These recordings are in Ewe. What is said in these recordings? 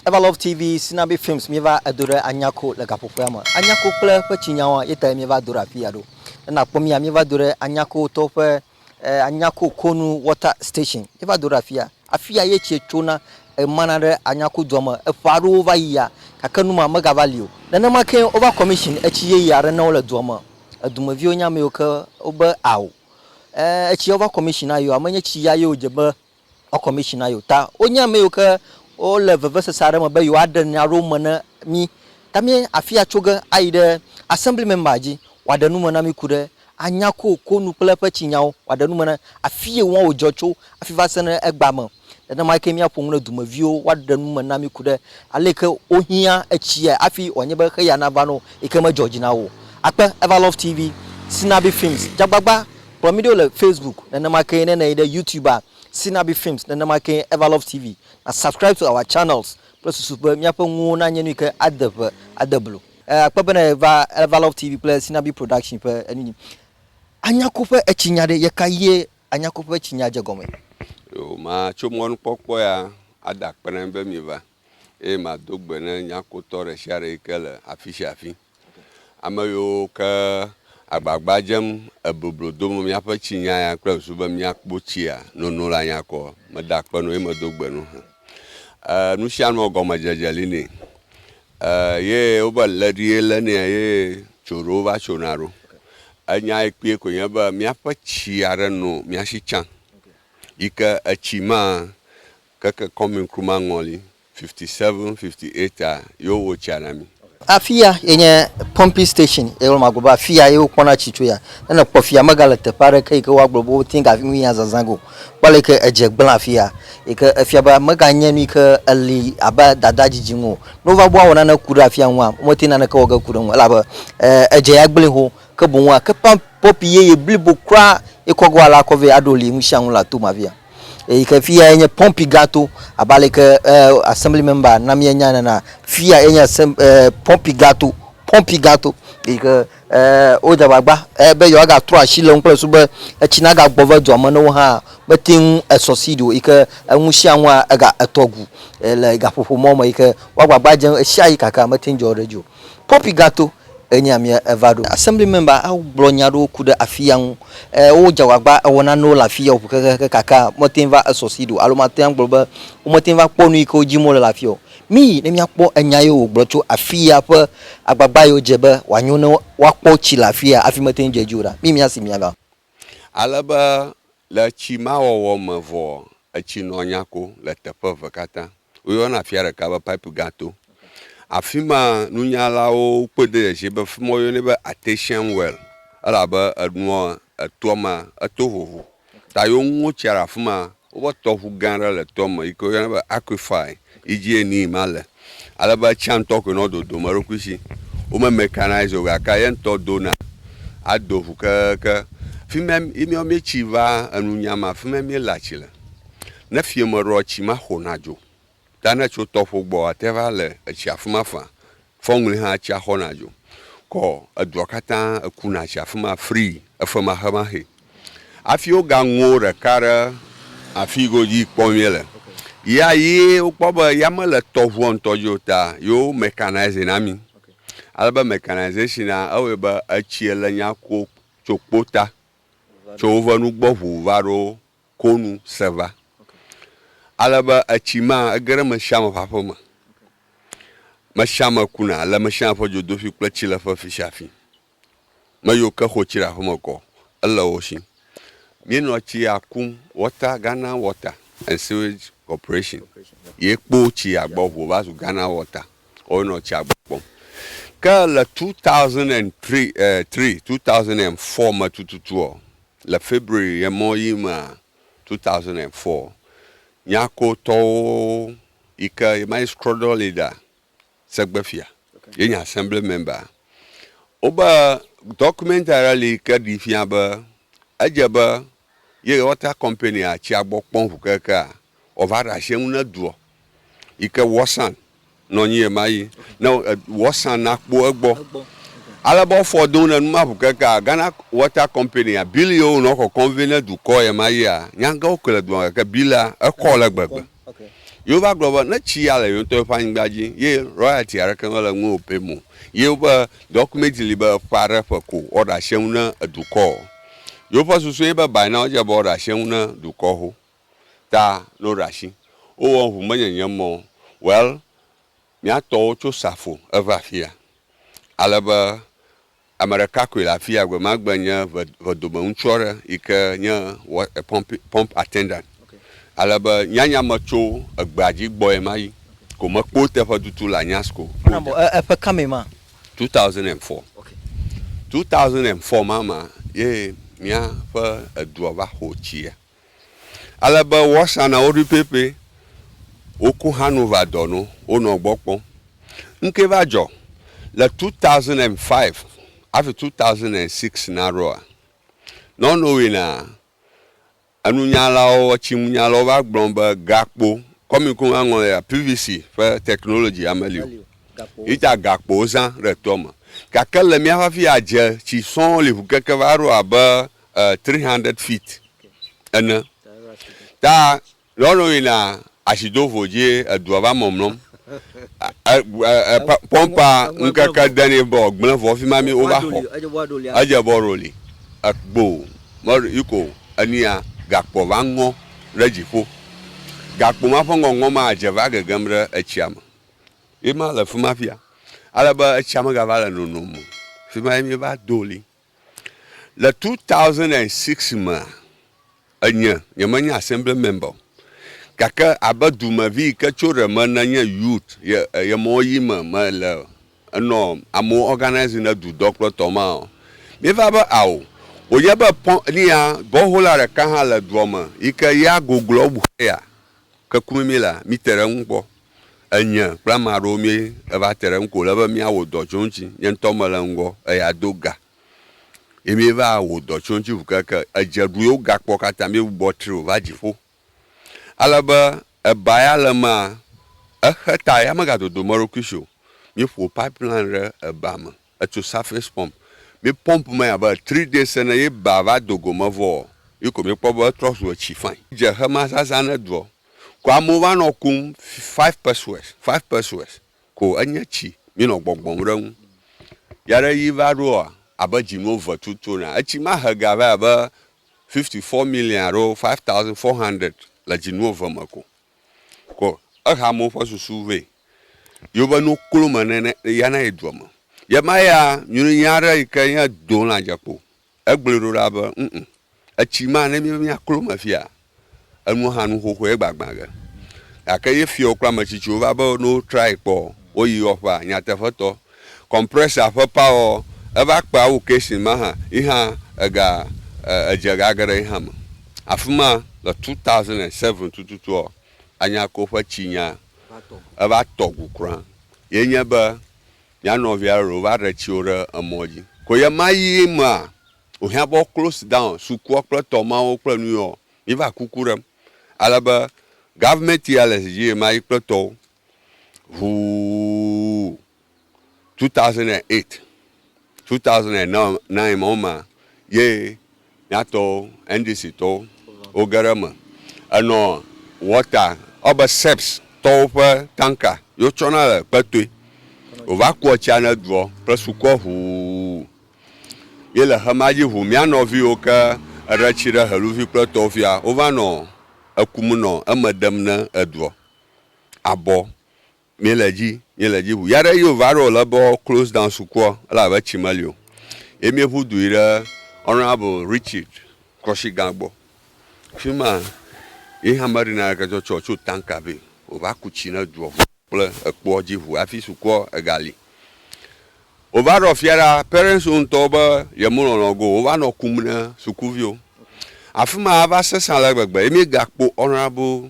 Evalove TV Sinabi Films Míeva edo ɖe Anyako le gaƒoƒea me. Anyako kple eƒe tsinyawoa ye tae míeva do ɖe afi ya ɖo. Ne nàkpɔ mía, míeva do ɖe Anyako tɔwo ƒe Anyako Konu Water Station. Míeva do ɖe afi ya. Afi ya ye tsie tsona ɣemana ɖe Anyako dua me. Eƒe aɖewo va yia gake nu ma megava li o. Nenema kee wova kɔmishini etsi yeye aɖe na wo le dua me. Edumeviwo nye ame yiwo ke wobe ao. Ẽ, etsiawo va kɔmishini na yewo. Ame nye tsi ya ye wodze be Ɔ kɔmishina yo ta wonye ame yiwo ke wole vevesese aɖe me be yewoaɖe nya aɖewo me na mí. Ta mí afi atso ge ayi ɖe Assembly Member dzi wòaɖe nu me na mí ku ɖe anya kokoko nu kple eƒe tsinyawo wòaɖe nu me na afi yi ŋua wòdzɔ tso hafi va se ɖe egbea me. Nenema kee míaƒo nu ɖe dumeviwo woaɖe nu me na mí ku ɖe ale yi ke wohiã etsiae hafi wòanye be xeya nava na wo yi ke medzɔ dzi na wo o. Akpe, Everlove TV, Sinabi Films, Dzagbagba Kplɔ mí ɖo le Facebook, nenema kee ne nèyi ɖe Youtube-a, Sinabi Films, nenema kee Everlove TV. Na subscribe to our channels kple susu be míaƒe nuwo nanye nu yi ke ade ŋe, ade blo. Akpe be nèva Everlove TV kple Sinabi Production ƒe enu dzi. Anyako ƒe etsinya ɖe, ɣeka ɣie Anyako ƒe etsinya dze gɔme? Yo, matso mɔnukpɔkpɔ ya ada akpe na mi be mieva. eye mado gbe ne nyakotɔ ɖesiaɖe yi ke le afisiafi, ame yiwo ke agbagba dzem eboblo dom míaƒe tsinya ya kple ŋsu be míakpo tsia nono la nya kɔ. Meda akpe na wo ye medo gbe na wo he. Ee, nusianua gɔmedzedze li nɛ. Ee, ye wobe lé ɖi ye lé nɛ ye tso ɖo va tso na ɖo. Enya yi kpɔe koe nye be míaƒe tsi aɖe no míasi tsã yi ke etsi ma Keke kɔmin kruma ŋɔli, 57, 58 a yo wo tsia na mi. Afi ya ye nye pumping station ye wole ma gblɔ be afi ya ye wokpɔna tsi tso ya. Ne nèkpɔ fi ya megale teƒe aɖeke yi ke woagblɔ be wote ŋu afi nu yi hã zazã ge o. Kpɔ ale yi ke edze gblẽ afi ya yi ke efia be meganye nu yi ke eli abe dada didi ŋu o. Ne wova be woawɔ nane ku ɖe afi ya ŋua womete ŋu naneke wɔ ge ku ɖe eŋu o elabe e edze ya gblẽe xoxo ke boŋ woake pump pɔpi yeye blibo kura ye kɔ ge woale akɔ vɛ aɖo li nu sia nu le ato me afi ya. eyi ke fi yae nye pɔpi gato abe ale yi ke e, assembly member na míenya nena fi yae nye asem, e, pɔpi gato pɔpi gato eyi ke e, wodze agbagba e, be yewoagatrɔ asi le ŋu kple susu be etsi nagagbɔ ve dua me ne wo hã mete ŋu esɔsid o yi ke eŋu sia ŋua ega etɔ gu e, le gaƒoƒo mɔ me yi ke woagbagba dze ŋu ɣesiaɣi gake mete ŋu dzɔ ɖe edzi o. Poppy gato enya mia eva ɖo. Assembly member awo gblɔ nya ɖewo ku ɖe afiya ŋu. E, wo dze agbagba ewɔ nanewo le afiya ŋu kekeake gake mete va e succeed o alo mate agblɔ be womete va kpɔ nu yi ke wo dim wole le afiya o. Miyi ne mia kpɔ enya yiwo wogblɔ tso afiya ƒe agbagba yiwo dze be woa nyo ne woa kpɔ tsi le afiya hafi mete dze edzi o ɖa. Miyi mia si mia va. Ale be le etsi ma wɔwɔ me vɔa, etsi nɔ nya ko le teƒe eve katã. Woyɔna afia ɖeka be Pipe Gã To. Afi ma nunyalawo kpɔe do dzesi be afi ma woyɔnɛ be Artesian Well elabe enua etoa me eto vovo ta ye woŋo tsia ɖe afi ma Woƒe tɔʋu gã aɖe le tɔ me yike woyɔna be Aquifae yi dzie nii ma le. Ale be etsia ŋutɔ koe nɔ dodom eɖokui si. Wo me mecanize o gake ye ŋutɔ dona ado ʋu kekeeke. Fima yi miawo mietsi va enunya ma fima miele atsi le. Ne fieme ɖoa tsi ma xona dzo. Ta ne tso tɔƒo gbɔ ate va le etsi afima fã. Fɔŋli hã tsia xɔna dzo kɔ edua katã ekuna tsi afima frii efemahemaxe. Afi woga ŋuo ɖeka ɖe afi godzi kpɔ mie le yia yi wokpɔ be ya me le tɔʋua ŋutɔ dzi o ta yo mɛkanaize na mi. Ale be mɛkanaizesin'a ewɔe be etsie le nya ko tso kpo ta tso wove nugbɔ ʋu va ɖo ko nu se va. Ale be etsi ma ege ɖe ame sia ame ƒe aƒe me. Ame sia ame kuna le ame sia ame ƒe dzodoƒi kple tsileƒe fi sia fi. Ame yiwo ke xɔ tsi ɖe aƒeme kɔ ele wo si. Míenɔ tsia kum water Ghana water and sewage corporation ye kpo tsia gbɔ ŋu wova zu Ghana water woawo nɔ tsia gbɔ kpɔm. Ke le two thousand and three, eh, three, two thousand and four me tututua, Le February ɣemɔ ɣi mea, 2004, Nyako tɔwo yi ke ye ma yi Scroddle Leader, Segbe Fia, ye nye Assembly Member, wo be document aɖe li yi ke ɖi fia be edze be ye Water Company-a tsia gbɔ kpɔm ŋu kekeake Ɔva ɖe ashi eŋu ne duɔ yike wɔsan nɔ nyi yema yi ne wɔsan na kpo egbɔ. Ale be ɔfɔ do ne numa ŋu keke a Ghana Water Company a bill yio nɔ kɔkɔm vɛ ne dukɔ yema yi a nyage wo kele dua gake bill a ekɔ le gbegbe. Yio va gblɔ be ne tsi ya le yonŋtɔ yeƒe anyigba dzi ye royalty aɖeke mele ŋu o pɛ mo ye woƒe document li be ƒe aɖe ƒe ko wɔɖe ashi eŋu ne edukɔ. Yio ƒe susu ye be by now dze be wɔɖe ashi eŋu ne dukɔ ho. ta no ɖa shi wo wɔ ŋu me nyenye mɔ well mia tɔ wo tso safo eve afia ale be ame ɖeka koe le afia gbe ma gbe nye ve vedome ŋutsu aɖe yi ke nye wa pump pump attendant okay. ale be nya nya me tso egbea dzi gbɔ ye ma yi okay. ko me kpo teƒe tutu le anyasco mana bɔ e eƒe kame ma 2004 okay. 2004 ma ma ye mia ƒe edua va xo tsia. Ale be woasa na wo ɖui pɛpɛ. Woko hã nu va dɔ no wonɔ gbɔ kpɔm. Ŋkɛ va dzɔ le two thousand and five hafi two thousand and six na ɖoa, nɔnɔwui na enunyalawo etsinunyalawo va gblɔ be gakpo kɔmiko ŋa ŋlɔ ya PVC ƒe technology ya meli o. Yita gakpo zã ɖe toa me. Gake le mía ƒe afi ya dze tsi sɔŋ li ŋu keke va ɖo abe uh, 300 feet ene. Ta lɔlɔ yina asidovo dzi edua va mɔmlɔm. Pɔmpa ŋkeke deni bɔ gblẽ vɔ fi ma mi wova xɔ. Edze bɔ roli. Ekpo yiko enia gakpo va ŋɔ ɖe dziƒo. Gakpo ma ƒe ŋɔŋɔ ma dze va gegem ɖe etsia me. Ye ma le fi ma fia. Ale be etsia me gava le nonom. Fi ma mi va doli. Le 2006 mea, enye, nyemenye Assembly member o, gake abe dumevi yi ke tso ɖe me ne nye youth ye ye mɔ yi me me le enɔ amewo organise ne dudɔ kple tɔ ma o. Mi va be ao, wònye be pɔn nia gɔhola ɖeka hã le dua me yi ke ya gogloa ŋu heya. Ke ku mimi la, mite ɖe eŋu kpɔ. Enye kple ame aɖewo míeva te ɖe eŋu ke wòle be míawɔ dɔ tso eŋuti. Nye ŋutɔ mele ŋgɔ eya do ga ye míeva wɔ dɔ tso eŋuti ŋu keŋkeŋ. Edze ɖu ye wogakpɔ katã míegbugbɔ tri wòva dziƒo. Ale be eba ya le emea, exe ta ya megadodo eɖokui si o. Míeƒo pipeline ɖe eba me. Etso surface pump, mi pump me abe three days ene ye ba va do go me vɔ ɔ, yi ko mi kpɔ be etrɔ zu etsi fãi. Dze xe ma zazã ne doɔ, ko amewo va nɔ kum five pesewas, five pesewas ko enye tsi mi nɔ gbɔgbɔm ɖe ŋu. Ya ɖe yi va ɖo ɔ, abe dzi nuwo ve tutuo nɛa, etsi ma he ga vae abe fifty four million alo five thousand four hundred le dzi nuwo ve me ko. Kɔ ehamewo ƒe susu vɛ yi wobe nuwo klo me nɛnɛ ya na yi dua me. Yema ya nyɔnu nya ɖe yi ke nye do lã dze kpo. Egblɔe ɖo ɖa be ŋ ŋ etsi ma ne míebe mía klo me fia enua hã nu xoxoe egbagbã ge. Gake ye fiawo kple ame tsitsiwo va be ne wotrae kpɔ woyi yɔƒea nyateƒetɔ. Compressor ƒe power ɔ, eva kpe awu casing ma hã yi hã ega edze ga geɖe yi hã me. Afima le two thousand and seven tututu ɔ, Anyako ƒe tsi nya eva tɔ gu kura ye nye be mía nɔvia ɖe ɖo va ɖe tsi wo ɖe emɔ dzi. Ko ye ma yi me a wo hiã be wo close down sukua kple tɔ ma wo kple nu yi ɔ, mi va kuku ɖem ale be government ya le zi dzi ye ma yi kple tɔ wo ʋuu, 2008, 2009 mɔ ma ye miatɔwo, NDC tɔwo wo ge ɖe eme. Enɔ water, ewɔ be SEPS tɔwo ƒe tanker yi wo tsɔ na le kpetoe. Wova kua tsia ne duɔ kple sukua ʋuu. Ye le xema dzi ʋuu, mía nɔviwo ke eɖe tsi ɖe Heluvi kple etɔwo fia, wova nɔ ekum nɔ eme ɖem ne eduɔ. abɔ mi le dzi mi le dzi ʋu ya ɖe yo va ɖo le bɔ close down sukua ele abe tsi me lio ye mi ʋu du yi ɖe honorable richard kɔshi gã gbɔ fima yi hama ɖi na ke tsɔ tsɔ tsɔ tanka be o va ku tsi ne duɔ kple ekpɔ dzi ʋu afi sukua ega li o va ɖɔ fia ɖa parents o ŋutɔ be ye mo lɔlɔ go o va nɔ kum ne sukuvio afima va sesa le gbegbe ye mi ga kpo honorable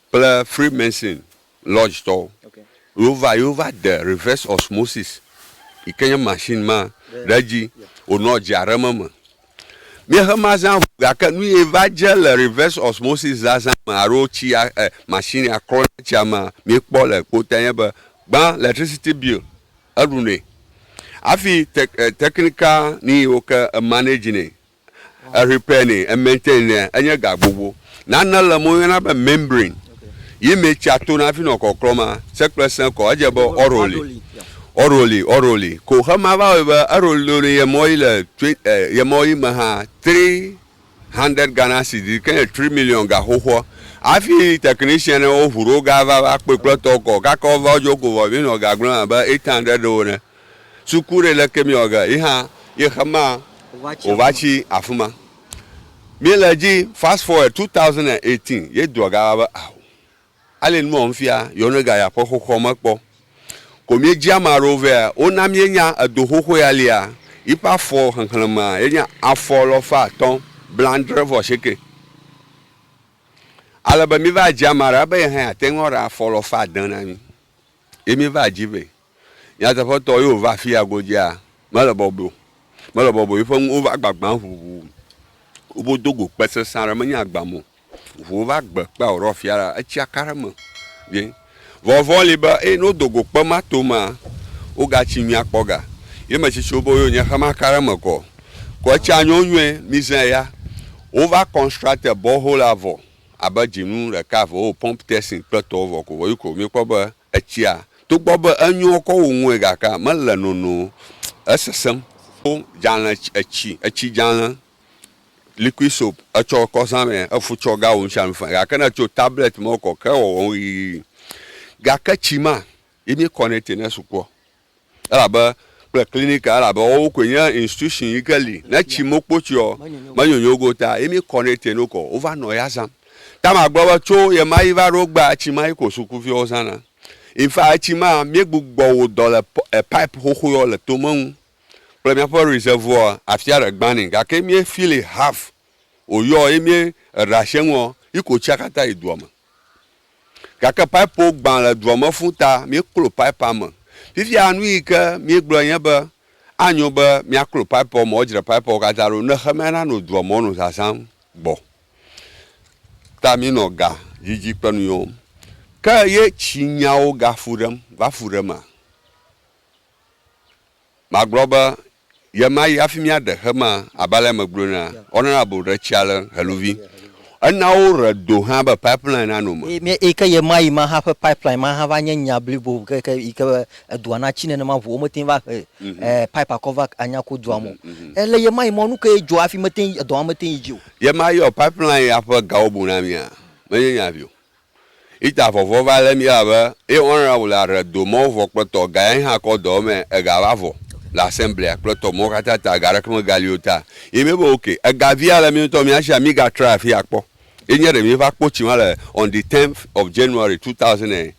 kple Freemason Lodge tɔwo yewo va yewo va de reverse osmosis yi ke nye machine ma ɖe edzi wonɔ dzea ɖem eme. Mía xe mazã ŋu gake nu ye va dze le reverse osmosis zazã me alo tsia eh, machine ya klɔ ɖe tsia me mí kpɔ le kpɔtɔe nye be gbã electricity bill eɖu nɛ. Afi te, eh, technical nu yiwo ke emanage nɛ Erypene, ementen nɛ, enye ga gbogbo. Nane le eme woyɔna be membrane yi mee tsia tona hafi nɔ kɔklɔ ma se kple se kɔ. Edze be oroli, oroli, oroli ko xe ma va wɔe be eroliloli ye mɔ yi le twe ye mɔ yi me hã three hundred Ghana cedis yi ke nye tri million ga xoxoa. Hafi technician ne wo ŋu ɖewo ga va va kpɔe kple tɔ kɔ. Kaka wo va wo dzo ko vɔ mi nɔ ga gblɔm abe eight hundred ɖewo ene. Suku ɖe leke mi ɔge yi hã yi xema o va tsi afima. Mi le dzi fast forward 2018 ye dua ga va be aho. Ale nua wɔm fia yɔ ne ga ya ƒe xoxɔ me kpɔ. Ko mi dzi ama ɖewo vea wo na mi nya edo xoxo ya lia yi ƒe afɔ xexlẽmea ye nye afɔ lɔfa atɔ blandre vɔ aseke. Ale be mi va dzi ama ɖe be ye hã ya te ŋu aɖe afɔ lɔfa ade na mi ye mi va dzi vɛ. Nyateƒetɔ ye wòva fia godzia? Mele bɔbɔe o. Mele bɔbɔe o. Eƒe nuwo va gbagbã ŋuŋu. Wodo go kpe sesẽ aɖe. Menye agbam o. Ŋuwo va gbe kpea wòɖɔ afia ɖa. Etsia ka ɖe eme vie. Vɔvɔ̃ li be, eye ne wodo go kpe ma to emea, wogatsi nyuie akpɔ ga. Ye ame tsitsiwo be, Oyo, nye xe maka ɖe eme kɔ o. Ko etsia nyo nyuie. Mizã eya. Wova constructer borehole-a vɔ abe dzinu ɖeka, eve wowɔ pump testing kple etɔwo vɔ ko vɔ. Yi ko míekpɔ be Etsia, togbɔ be enyo kɔ wu ŋue gake mele nono o, esesẽm. Wo dzalẽ etsi, etsi dzalẽ, liquid soap, etsɔ kɔ zã mɛ, efu tsɔ ga wɔ nusianu fã gake ne etso tablet me kɔ ke ewɔwɔ ŋu yiyiyi. Gake tsi ma ye mi kɔ nɛ te ne sukua. Elabe kple clinic elabe wowo koe nye institution yi ke li ne tsi mokpo tsiɔ menyonyo go ta yi mi kɔ nɛ te no kɔ wova nɔ ya zam ta ma gblɔ be tso ye ma yi va ɖo gba etsi ma yi ko suku viwo zã na infa etsi ma mi gbu gbɔ wo dɔ le pipe xoxo yɔ le to me ŋu kple mia ƒe reservoir afia ɖe gba ni gake mi fili half o yɔ yi mi eɖa she ŋuɔ yi ko tsia kata yi dua me. Gake pipewo gbã le dua me fũ ta míeklo pipea me. Fifia nu yi ke míegblɔ nye be, Anyo be míaklo pipeawo me, wodzra pipeawo katã ɖo ne xemea nanɔ dua me wònɔ zazãm gbɔ ta míenɔ ga didi kple nu yɔm. Ke ye tsi nyawo gafu ɖem va fu ɖema? Magblɔ be Ɣe ma ɣi hafi míaɖe xe ma abe ale megblɔe nea, woanana bo ɖe tsia le heluvi. Ena woɣe do hã be pipeline nano me. Eyi ke ɣe ma ɣi ma hã ƒe pipeline ma hã va nye nya blibo kekeake yi ke be edua natsi nenema ŋu womete va he pipe akɔ va anya ku dua me o. Le ɣe ma ɣi ma nu kae dzɔ hafi mete edɔ ma mete yi dzi o? Ɣe ma ɣi pipeline ya ƒe gawo bu na mía? Menye nya vi o. Ita vɔvɔ va lé mí la be, ye ɔn ra wla re do mɔ vɔ kple tɔ ga ya yi hã kɔ dɔ mɛ ega va vɔ le asɛmblea kple tɔ mɔ kata ta ga ɖeke me ga li o ta. Yi mí be ok, ega via le mí ŋutɔ mía shi a mí ga tra afi a kpɔ. Ye nye ɖe mí va kpɔ tsi ma le on the tenth of January two thousand and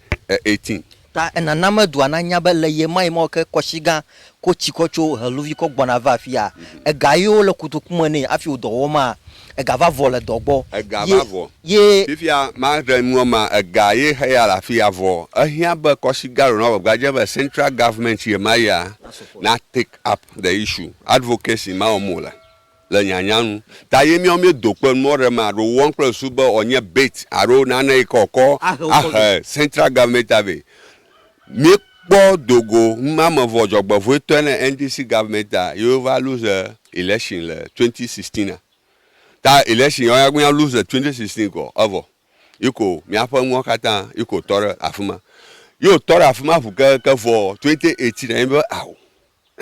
eighteen. Ta enana me dua nanya be le ɣie ma ɣi mawo ke kɔshi gã ko tsi kɔ tso heluvi kɔ gbɔna va afia. Ega ɣi wo le kotoku me ne afi wo dɔ wɔ ma, ega va vɔ le dɔ gbɔ. Ega va vɔ. Ye. Fifia ma ɖe nua ma ega ye heya le afia vɔ. Ehia be kɔshi gã lo na gbagba dze be central government ye ma ya na take up the issue, advocacy ma wɔm wo le. le nyanya nu. Ta ye míawo míedo kpe nu mɔ ɖe ame aɖe wɔm kple ŋsu be wòanye bait alo nane yi ke wòkɔ ahe Central Government a vɛ. Míekpɔ do go numamevɔ dzɔgbevɔ̃etɔe ne NDC Government a ye wova lose election le twenty sixteen a. Ta election ya wónya be mía lose le twenty sixteen kɔ evɔ. Yi ko míaƒe nuwo katã yi ko tɔ ɖe afi ma. Ye wòtɔ ɖe afi ma ŋu kekeake vɔ twenty eighteen a míebe ao.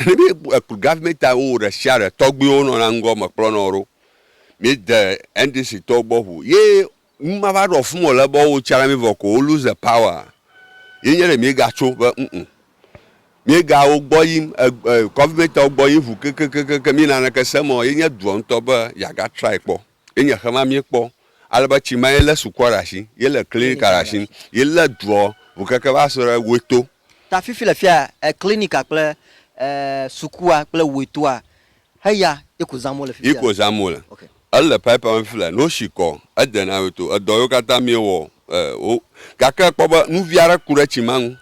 Ne be ekplɔ government a wo ɖesiaɖe tɔgbuiwo nɔna ŋgɔ me kplɔ nɔ ɖo. Mi de NDC tɔwo gbɔ ŋu ye numa va ɖɔ fun o le be wo tsra mi vɔ ko wo lose the power. Ye nye ɖe mi ga tso be ŋuŋu. Mi ga wo gbɔ yim government wo gbɔ yim ŋu kekekekeke mi naneke se mɔ ye nye dua ŋtɔ be ya ga try kpɔ. Ye nye xe ma míekpɔ ale be tsi ma ye lé sukua ɖe asi, ye lé klinika ɖe asi, ye lé dua ŋu keke va se ɖe Weto. Ta fifi le fia klinika kple sukua kple Wetoa heya ye ko zãm wole fifi. Ye ko zãm wole. Ele pipea me fifi le ne wosi kɔ edena Weto. Edɔ yiwo katã míewɔ o gake ekpɔ be nuvi aɖe ku ɖe tsi ma ŋu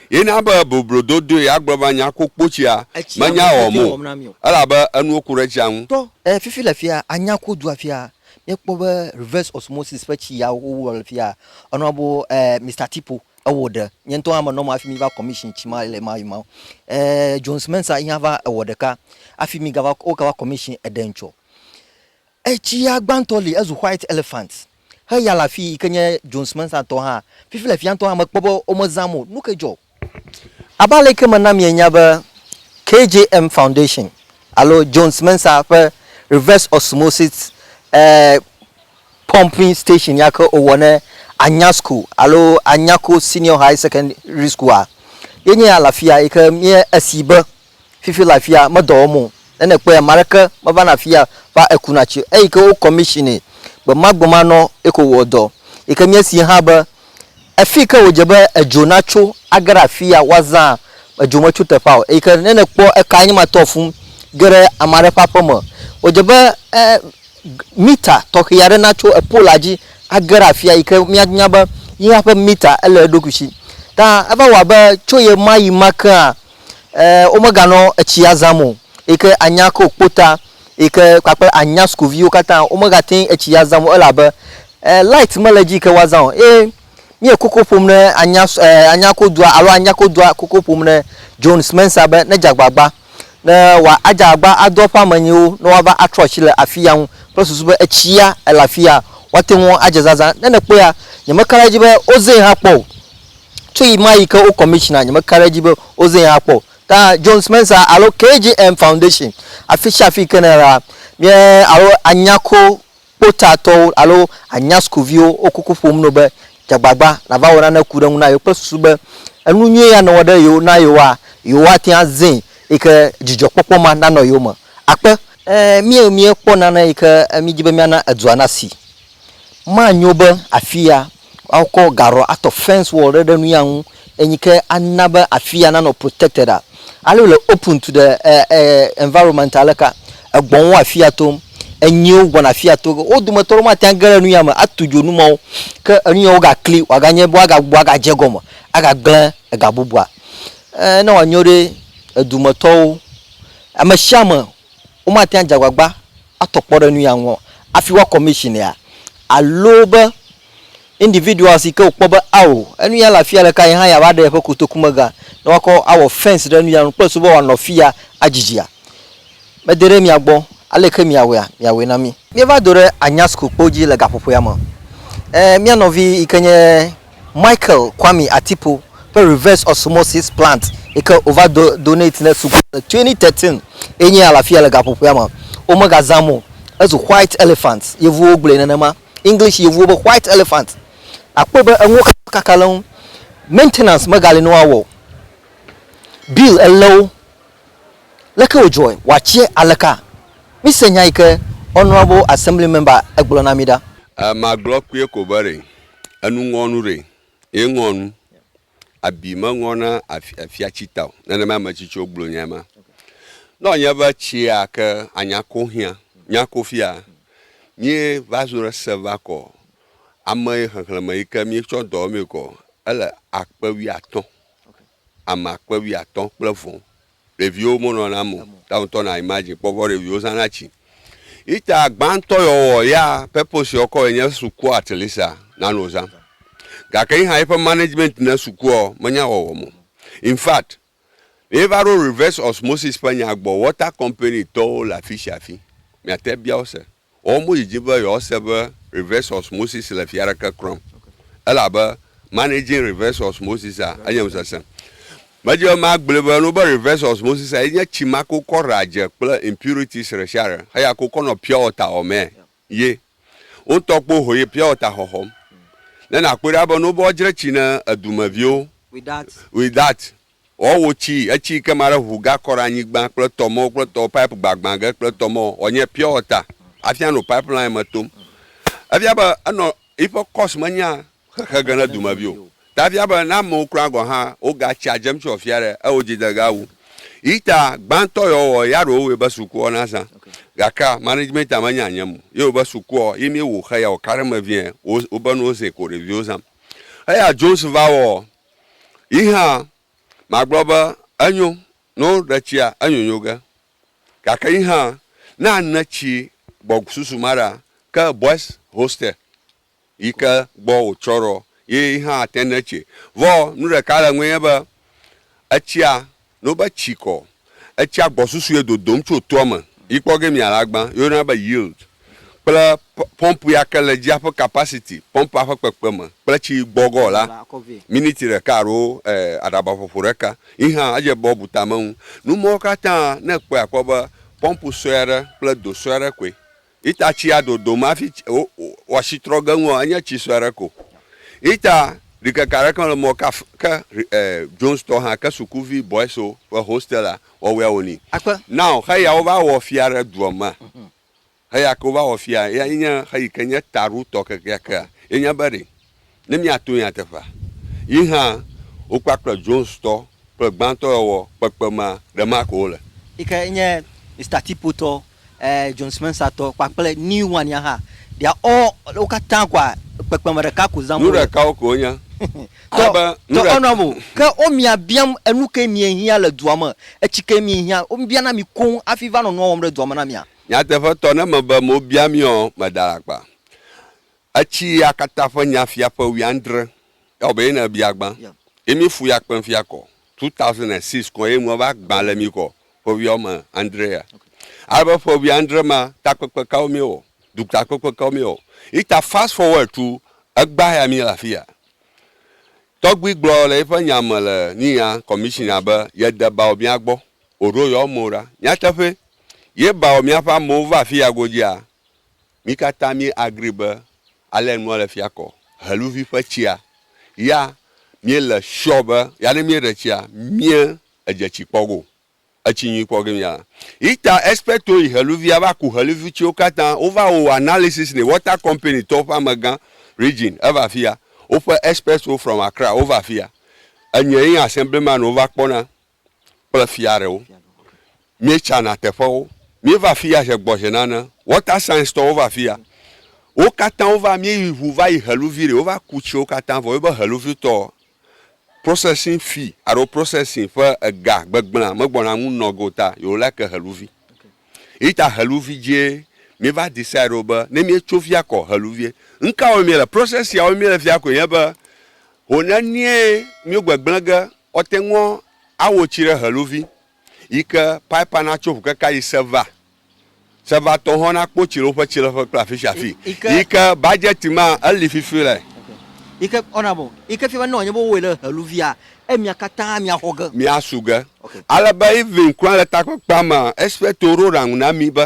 ye na be boblo dodoe agblɔ be anya kpokpo tsia menya wɔm o elabe enuwo ku ɖe tsia ŋu. E Fifi le afia anya ku du afia míekpɔ be reverse osmosis ƒe tsi ya wo wɔ le afia enɔa bo e Mister Tipo ewɔ ɖe nye ŋutɔ hã me nɔ ma hafi mi va commission tsi ma le ma yi ma e Jones Mensah yi hã va ewɔ ɖeka hafi mi gava wo gava commission eɖe ŋtsɔ Etsia gbãtɔ li ezu white elephant heya le afii yike nye Jones Mensah tɔ hã fifi le fiantɔ hã mekpɔ be wome zãm o nuke dzɔ? Abe aleke mena mienya be KJM Foundation alo Jones Mensah ƒe Reverse Osmosis eh Pumping Station yake wowɔ ne Anya School alo Anyako Senior High Secondary School-a ye nye ya le afia yike mie esi be Fifi le afia medɔ wɔm o. Ne nèkpɔe ame aɖeke mevana afia va ekuna tsi o. Eyi ke wo kɔmishinɛ gbemagbemãnɔ ye ko wɔa dɔ. Yi ke míesee hã be afi yi ke wòdze be edzo natso age ɖe afia woazã edzo metso teƒea o. Eyi ke ne nèkpɔ ekae nye ma tɔ fũu ge ɖe ame aɖe ƒe aƒe me. Wòdze be e mita tɔxɛ aɖe natso epola dzi age ɖe afia yi ke míanya be yehã ƒe mita ele eɖokui si. Ta eva wɔ abe tso ɣemaɣi ma kea eh womeganɔ etsia zam o yi ke anya ke wokpo ta yi ke kpakple anya sukuviwo katã womegate ŋu etsi azam o elabe eh light mele edzi yi ke woazã o eye míe koko ƒom ne anya eh anya ko dua alo anya ko dua koko ƒom ne John Spencer be nedze agbagba ne wa adze agbagba ado eƒe ame nyuiwo ne woava atrɔ asi le afiya ŋu kple susu be etsia ele afiya woate ŋu adze zazã ne nèkpɔea nyemeka ɖe edzi be wozee hã kpɔ o. Tso ɣemaɣi ke wo commissioner nyemeka ɖe edzi be wozee akpɔ o. Ta Jones Mensah alo KGM Foundation, afisiafi yi ke nèle la, mía alo Anyako kpotatɔwo alo Anya sukuviwo wo kuku ƒom na wò be dze agbagba nàva wɔ nane ku ɖe eŋu na yewo kple susu be enu nyui ya nèwɔ ɖe yewo na yewoa, yewoate ŋu azẽ eyi ke dzidzɔkpɔkpɔ ma nanɔ yewo me akpe. Ẽ, míekpɔ nane yi ke míedi be míana edua nasi. Manyo be afia woakɔ gaɖɔ atɔ fence wall ɖe ɖe nuya ŋu enyi ke ana be afia nanɔ protected a. Ale wòle open to the e, e, environment aleka. Egbɔ̃wo wo afia tom. Enyiwo gbɔna afia to. Wo dometɔ ɖewo mate ŋu age ɖe nuya me atu dzo nu mawo. Ke enuya wogakli wòaganye be woagagbɔ agadze egɔme agagblẽ ega bubua. E, ne wòanyo ɖe edumetɔwo, ameshiame, womate ŋu adze agbagba atɔ kpɔ ɖe nu ya ŋu o hafi woa commission ya alo be individuals yi ke wokpɔ be ao enu ya le afi ya ɖeka ye hã yeava ɖe yeƒe kotoku me ga ne woakɔ awɔ fence ɖe nu ya ŋu kple susu be wòanɔ afi ya adzidzia. Mede ɖe mia gbɔ, ale ke miawɔea, miawɔe na mí. Míeva do ɖe Anyasukukpo dzi le gaƒoƒoea me. Ẽ, mía nɔvi yi ke nye. Michael Kwame Atipo ƒe Reverse Osmosis Plant yi ke wova do donate ne suku le 2013 ye nye ya le afi ya le gaƒoƒoea me. Womegazãm o. Ezu white elephant. Yevuwo gblɔe nenema. English yevuwo be white elephant. Akpɔe be enuwo katã kaka le eŋu. Maintenance megali ne woawɔ o. Bill elé wo. Leke wòdzɔe? Wòatsie aleka? Mise nya yi ke Honourable Assembly Member egblɔ na mí ɖa. Magblɔ kpuie ko be ɖe. Enu ŋɔ nu ɖe ye ŋɔ nu. Abi me ŋɔ na afia tsi ta o. Nenema ame tsitsiwo gblɔ nya ma. Nɔ nye be tsia ke anya ko xia, nya ko fia, mi va zo ɖe se va kɔ ame xexleme yi ke mi tsɔ dɔ me kɔ ele akpe wui atɔ. ame akpe wuiatɔ̃ kple vɔ ɖeviwo mo nɔna mo ta ŋutɔ na imagine kpɔ vɔ ɖeviwo zana tsi ita gbãtɔ yɔ wɔ ya purpose yɔ kɔ enye sukua at least a na no zã gake yi hã yi ƒe management ne sukua menya wɔ wɔ mo in fact yi va ɖo reverse osmosis ƒe nya gbɔ water company tɔwo le afisia afi mia te bia wo se. Woawo modi dzi be yewoase be Reverse Osmosis le fia aɖeke klɔm, elabe Managing Reverse Osmosis a enye nu sesẽ. Medi be magblɔe be nu be Reverse Osmosis a ye nye tsi ma ke wokɔ ɖea dze kple impurities ɖesiaɖe heya ke wokɔ nɔ pure water xɔmee ye. Wo ŋutɔ kpo ho yi pure water xɔxɔm. Ne nakpɔe ɖa be nu be woadzre tsi ne edumeviwo, with that, Ɔ wo ci eci ke ma ɖe ʋu ga kɔ ɖe anyigban kple tɔ mɔ kple tɔ pipe gbagbã ge kple tɔ mɔ ɔ nye pure water afia no pipe line me tom. Efia be enɔ yiƒe course me nya xexe ge ne dumevi o. Ta efia be ne amewo kura gɔ hã wo ga tsia dzem tso afia ɖe eo dzi de ga wu. Yi ta gbãtɔ yɔ wɔ ya ɖewo wɔe be sukuɔ na zã. Gakea management a me nya nyem o. Yi wo be sukuɔ yi mi wo xe ya wo ka ɖe me vie wo be nuwo zɛ ko ɖeviwo zam. Eya Jones va wɔ Yi hã magblɔ be, Enyo, ne woɖe tsia, enyonyo ge. Gake yi hã, ne ane tsi gbɔ susu ma ɖea, ke Boys Hostel yi ke gbɔ wòtsɔ ɖoa, ye yi hã ate ne tsi. Vɔ nu ɖeka le eŋue nye be, etsia No be tsi kɔ. Etsia gbɔsusue dodom tso toa me yi kpɔ ge mia alagba ye woyɔna be yield kple pɔmpu ya ke le dzi aƒe kapasiti, pɔmpua ƒe kpekpeme kple tsi gbɔgɔ la, miniti ɖeka alo aɖaba ƒoƒo ɖeka yi hã edze be wobu tame ŋu. Nu mawo katã ne ekpɔe akpɔ be pɔmpu sue aɖe kple do sue aɖe koe Ita tsia dodom hafi wɔasi trɔ ge ŋua, enye tsi sue aɖe ko. Ita ɖikeke aɖeke mele mɔ ke af, ke e, Jones tɔ hã, ke sukuvi boys-o ƒe hostel-a wɔwɔea wòni. Akpe. Now, xeya wova wɔ fia ɖe dua mea, xeya ke wova wɔ fia, eyae nye xeyi ke nye taɖotɔ kekeakea, ye nye be ɖe. ne míato nyateƒea. Yi hã, wokpakple Jonestɔ kple gbãtɔewɔwɔ kpekpemea ɖe ma ko wole. Yi ke nye Mister Tipo tɔ, ɛɛ, John Spencer tɔ kpakple New One ya hã, they are all, wo katã koa, kpekpeme ɖeka ko zãm Nu wole. ɖekawo koe wonye. Tɔ, Ale be, nu tɔ ɖe. enɔam o. Ke womia biam enu kae miehiã le dua me, etsi kae miehiã. Wobiana mi koŋ hafi va nɔ nua wɔm ɖe dua me na mia. Nyateƒetɔ, ne mebe mobia miɔ, meɖe alakpa. Etsi ya katã ƒe nya fia ƒe wuiadre. Ewɔ be ye ne ebia gbã. Ye mi fu ya kpem fia kɔ. 2006 kɔ ye nua va gbã le mi kɔ ƒe wuia wɔme andre ya. Ale be ƒe wuiadre ma takpekpe kawo mi wɔ? Dutakpekpe kawo mi wɔ? Yi ta fast forward to egbã ya mi le afi ya. Tɔgbui gblɔ le yi ƒe nya me le nuya commissioner be ye de bawɔ mia gbɔ. Oɖo yewo amewo ɖa. Nyateƒe. Ye bawɔ mia ƒe amewo va afi ya godzia, Mí katã mí agree be ale nua le fia kɔ. Heluvi ƒe tsia ya mí le sure be ya ne mí ɖe tsia mí edze tsi kpɔ go. Etsi nyui kpɔ ge mí a. Ita expect wo yi heluvia va ku heluvi tsiwo katã wo va wo analysis ne water company tɔwo ƒe amegã region eva fia. Woƒe experts wo from Accra wo va fia. Enye yi assemblyman wo va kpɔ na. kple fia ɖewo. Míetsana teƒewo. Míeva afi ya ʒe gbɔ ʒe nane. Water Signs tɔwo va afi ya. Wo katã wova, míeyi ŋu va yi Heluvi ɖi. Wova ku tsiwo katã vɔ. Míebe Heluvi tɔ, processing fee alo processing ƒe ega gbegblẽa megbɔna ŋu nɔ ge o ta yewo like Heluvi. Eyi ta Heluvi dzie míeva decide ɖo be ne míetso fi ya kɔ Heluvie. Nukawoe míele? Process siawoe míele fia koe nye be, ho nenie míegbegblẽ ge Ɔte ŋɔ awo tsi ɖe heluvi yi ke paipa na tso ŋukeka yi seva. Seva tɔ hɔn na kpo tsi le woƒe tsileƒe kple afi sia afi yi ke badzɛti ma eli fifi le. Yi ke ɔna bɔ yi ke fia be ne wòanye be wowɔe le heluvia, emia katã mia xɔ ge. Mia su ge. Ale be even kura le takpekpea mea, espɛrito ɖo ɖaŋu na mi be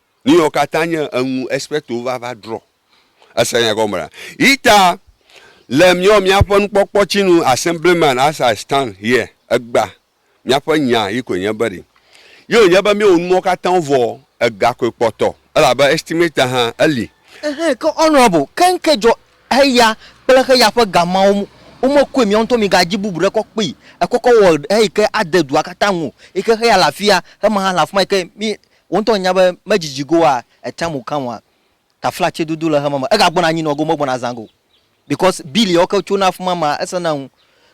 Nuyɔ katã nye eŋu Espirituwo va va drɔ. Ese nya gɔme ɖa. Yita le miɔ miaƒe nukpɔkpɔ tsi nu assemblyman as I stand here egba miaƒe nya yi koe nye be ɖi yio nye be miwo numɔ katã wo vɔ ega koe kpɔtɔ elabe estimator hã eli. Ehe ke honorable ke ŋke dzɔ heya kple heya ƒe ga mawo mu wo me koe miawo ŋutɔ mi ga dzi bubu ɖe kɔ kpee ekɔ kɔ wɔ heyi ke ade dua katã ŋu yi ke heya le afia hema hã le afima yi ke mi Wò ŋutɔ ènya be medzidzi go wa etea mu kã wa taflatse dodo le xema me ega gbɔna anyi nɔ go megbɔna azã go because bill yawo ke tsona afima ma ese na ŋu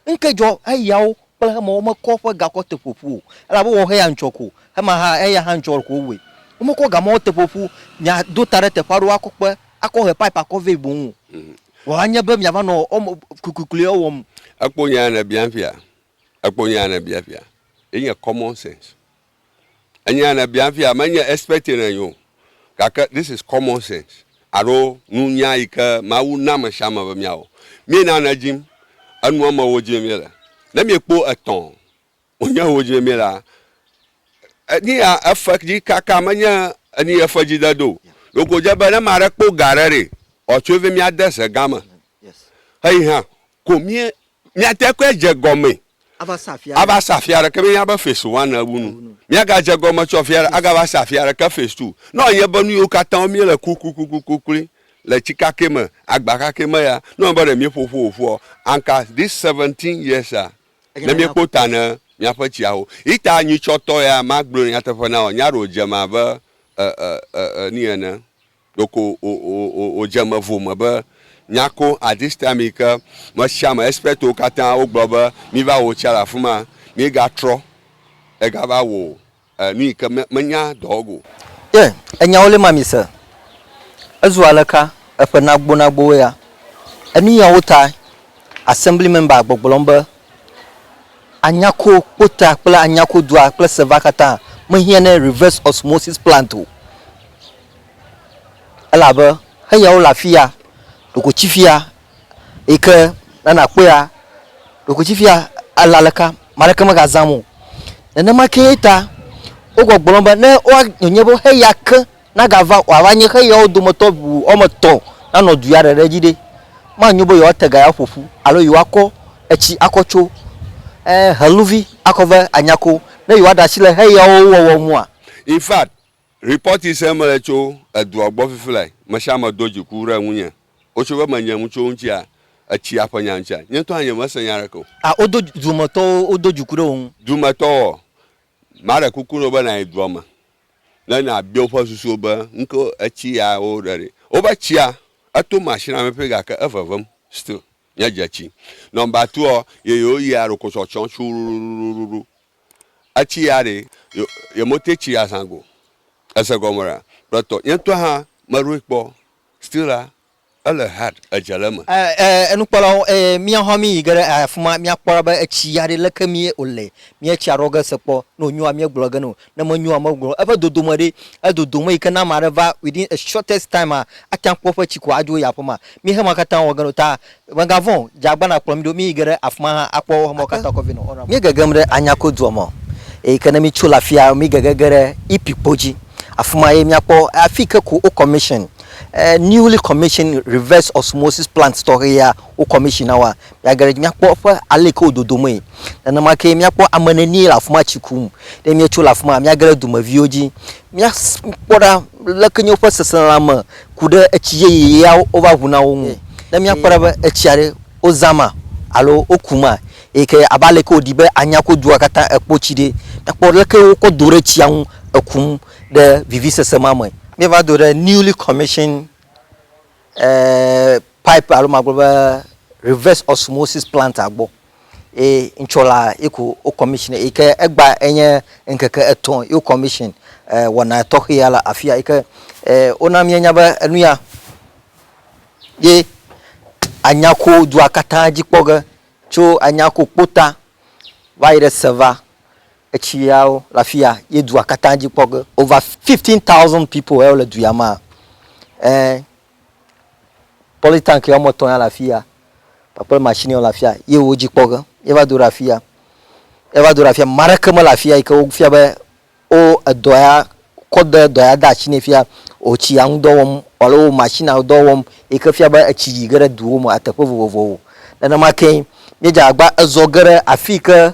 ŋke dzɔ eyawo kple xema wo me kɔ ƒe gakɔ te ƒoƒu o elabe wɔ xe ya ŋtsɔ ko xema xa eya xa ŋtsɔ ko woe wo me kɔ gamawo te ƒoƒu mia do ta ɖe teƒe aɖewo akɔ kpe akɔ he pipe akɔ vɛ boŋ o vɔ anye be mia va nɔ ɔme kuikuikui ɔ wɔm. Ekpo nya ya ne bia fia ekpo nya ya ne bia fia ye nye common sense. Enyia ne bia fia menye expert ne nyo gake this is common sense alo nunya yi ke Mawu na ame sia ame be mia wɔ. Mie na ne dzim enua me wo dzim mie le. Ne mie kpo etɔ wo nye wo dzim mie la enia efe dzi kaka menye eni efe dzi de do. Ɖeko dze be ne ma ɖe kpo ga ɖe ɖe ɔtso ve mia de ze gã me. Xeyi hã Ko mie, miate koe adze gɔmee Ava sa afi aɖe. ava sa afi aɖeke menye abe fes wan ewu nu. Miagadze gɔme tsɔ afi aɖe agava sa afi aɖeke fes tu. Ne wòanye be nu yiwo katã wo míele kuklikuklikuklui le tsi kakɛ me, agba kakɛ me ya, ne wònye be ɖe míeƒo ƒu wòƒua, anka this seventeen years a, ne míekpɔ ta ne míaƒe tsiawo. Ita nyuitsɔtɔ ya, magblɔe nyateƒe na wò, nya ɖewo dze eme abe e, e, e, e, ni ene. Ɖeko wòdze eme vo me be nyako at this time yi ke mesiame expertwo katã wogblɔ be miva wɔ otsia le afima, míegatrɔ egava wɔ nu yi ke menya dɔwɔg o. Ye enyawo lé mami se. Ezu aleka eƒe nagbonagbowo ya. Enuyawo tae Assembly member gbɔgblɔm be Anyako kpota kple Anyako dua kple Seva katã mehiã ne reverse osmosis plant o. Elabe eyawo le afi ya, ɖokuitsi fi ya yi ke ne nàkpɔea, ɖokuitsi fi ya ale aleke ame aɖeke megazãm o. Nenema kee ta wogbɔgblɔm be ne woa wonye be xeya ke nagava wòava nye xeyawo dometɔ ŋu woame etɔ̃ nanɔ du ya ɖe ɖe dzi ɖe, manyo be yewoate ga ya ƒo ƒu alo yewoakɔ etsi akɔ tso ee heluvi akɔ va anya ko ne yewoaɖe asi le xeyawo wɔwɔ ŋua? In fact, Report yi sem mele tso edua gbɔ fifi lae, mesiame do dziku ɖe ŋunye. Wotso be menye ŋu tso ŋutia, etsia ƒe nya ŋutia. Nye ŋutɔ hã nye mese nya aɖeke o. A Wodo dumetɔwo wodo dziku ɖe wò ŋu. Dumetɔwoɔ? Maɖe kuku na wò be nàyi dua me ne nàbia woƒe susuwo be nuke etsi ya wo ɖe ɖi. Wobe tsia eto machine la me ƒi gake evevem still. Nye dze tsi. Number two ɔ, ye yewo yia ɖokotsɔtsɔ tsuuruɖuɖuɖuɖu. Etsi ya ɖe yo yemotɛ tsi azã go. Ese gɔme ɖa? Kpletɔ. Nye ŋutɔ hã meɖoe kpɔ still la ele hard edze le eme. E e nukpɔlawo e mía hã mí yi ge ɖe afima mía kpɔ ɖa be etsi ya ɖe leke mí o le mía etsia ɖɔ ge se kpɔ ne o nyoa mía gblɔ ge ne o ne me nyoa me gblɔ eƒe dodome ɖe e dodome yi ke ne ame aɖe va within a shortest time a ate ŋu akpɔ eƒe tsi ko adzo yi aƒe ma mí he ma katã wɔ ge ne o ta Mègavɔ̃ o, dze agbana kplɔ mí ɖo, míyi ge ɖe afi ma hã akpɔ wo hame katã kɔvɛ nɔ Ɔrama. Míegegem ɖe Anyako dua me o, eyi ke ne mítso le afia mígege ge ɖe Ipi kpo dzi. Afi ma ye míakpɔ afi yi ke ko wo commission newly commission reverse osmosis plant tɔxɛ ya wo commission na woa, míage ɖe edzi míakpɔ eƒe ale yi ke wo dodomee. Nenema kee míakpɔ ame nenie le afi ma tsi kum. Ne míetso le afi ma míage ɖe dumeviwo dzi míakpɔ ɖa leke nye woƒe seselelãme. ku ɖe etsi yeye ya wova ŋu na wo ŋu. Ne míakpɔ ɖa be etsia ɖe wozã ma alo woku ma eyi ke abe ale ke wòɖi be anya ko dua katã ekpɔ tsi ɖe, míakpɔ leke wokɔ do ɖe tsia ŋu ekum ɖe vivisese ma me. Míeva do ɖe newly commissioned pipe alo magblɔ be reverse osmosis plant-a gbɔ. Ye ŋtsɔ la eko wo commission yi ke egba enye ŋkeke etɔ̃ ye wo commission e wɔna tɔxɛ ya le afia yi ke e wona míenya be enu ya ye anya ko dua katã dzi kpɔ ge tso anya ko kpota va yi ɖe seva etsi yawo le afi ya ye dua katã dzi kpɔ ge over fifteen thousand people ye wo le du ya mea e. Polytank woame etɔ̃ ya le afi ya kpakple machine yawo le afi ya ye wo dzi kpɔ ge ye va do ɖe afi ya. Ye va do ɖe afi ya. Ame aɖeke mele afi ya yi ke wofia be wo edɔ ya kɔ de dɔ ya de asi nɛ fia wo tsi ya ŋu dɔ wɔm alo wo machine ya dɔ wɔm yi ke fia be etsi yi ge ɖe duwo me, eteƒe vovovowo. Nenema kee míedze agbagba ezɔ ge ɖe afi yi ke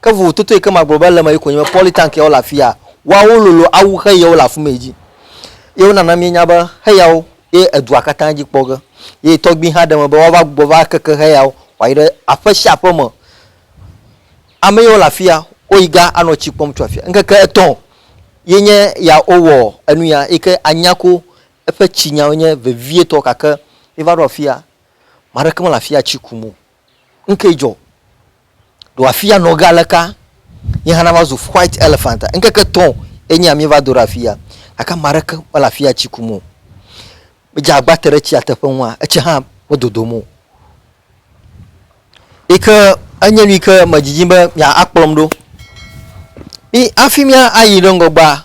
Ke vovototo yi ke magblɔ be ele eme ye koe nye be polytank yawo le afi ya, woawo lolo awu xe yawo le afi ma yi dzi. Ye wonana míenya be xe yawo ye edua katã dzi kpɔ ge. Ye tɔgbui hã ɖe eme be woava gbugbɔ va keke xe yawo wòayi ɖe aƒe sia aƒe me. Ame yawo le afi ya, woyi ga anɔ tsi kpɔm tso afi ya. Ŋkeke etɔ̃ ye nye ya wowɔ enu ya yi ke anya ko eƒe tsinyawo nye vevietɔ gake míeva ɖo afi ya, ame aɖeke mele afi ya tsi kum o. Nukae dzɔ? Ɖo afia nɔ ge aleka nye hã nava zu white elephant a? Ŋkeke etɔ̃ ye nye amie va do ɖe afia gake ame aɖeke mele afia tsi kum o. Medze agba te ɖe tsia teƒe nua etsi hã medodom o. Yi ke enye nu yi ke medzidzim be mia akplɔm ɖo. Mi hafi mia ayi ɖe ŋgɔgbea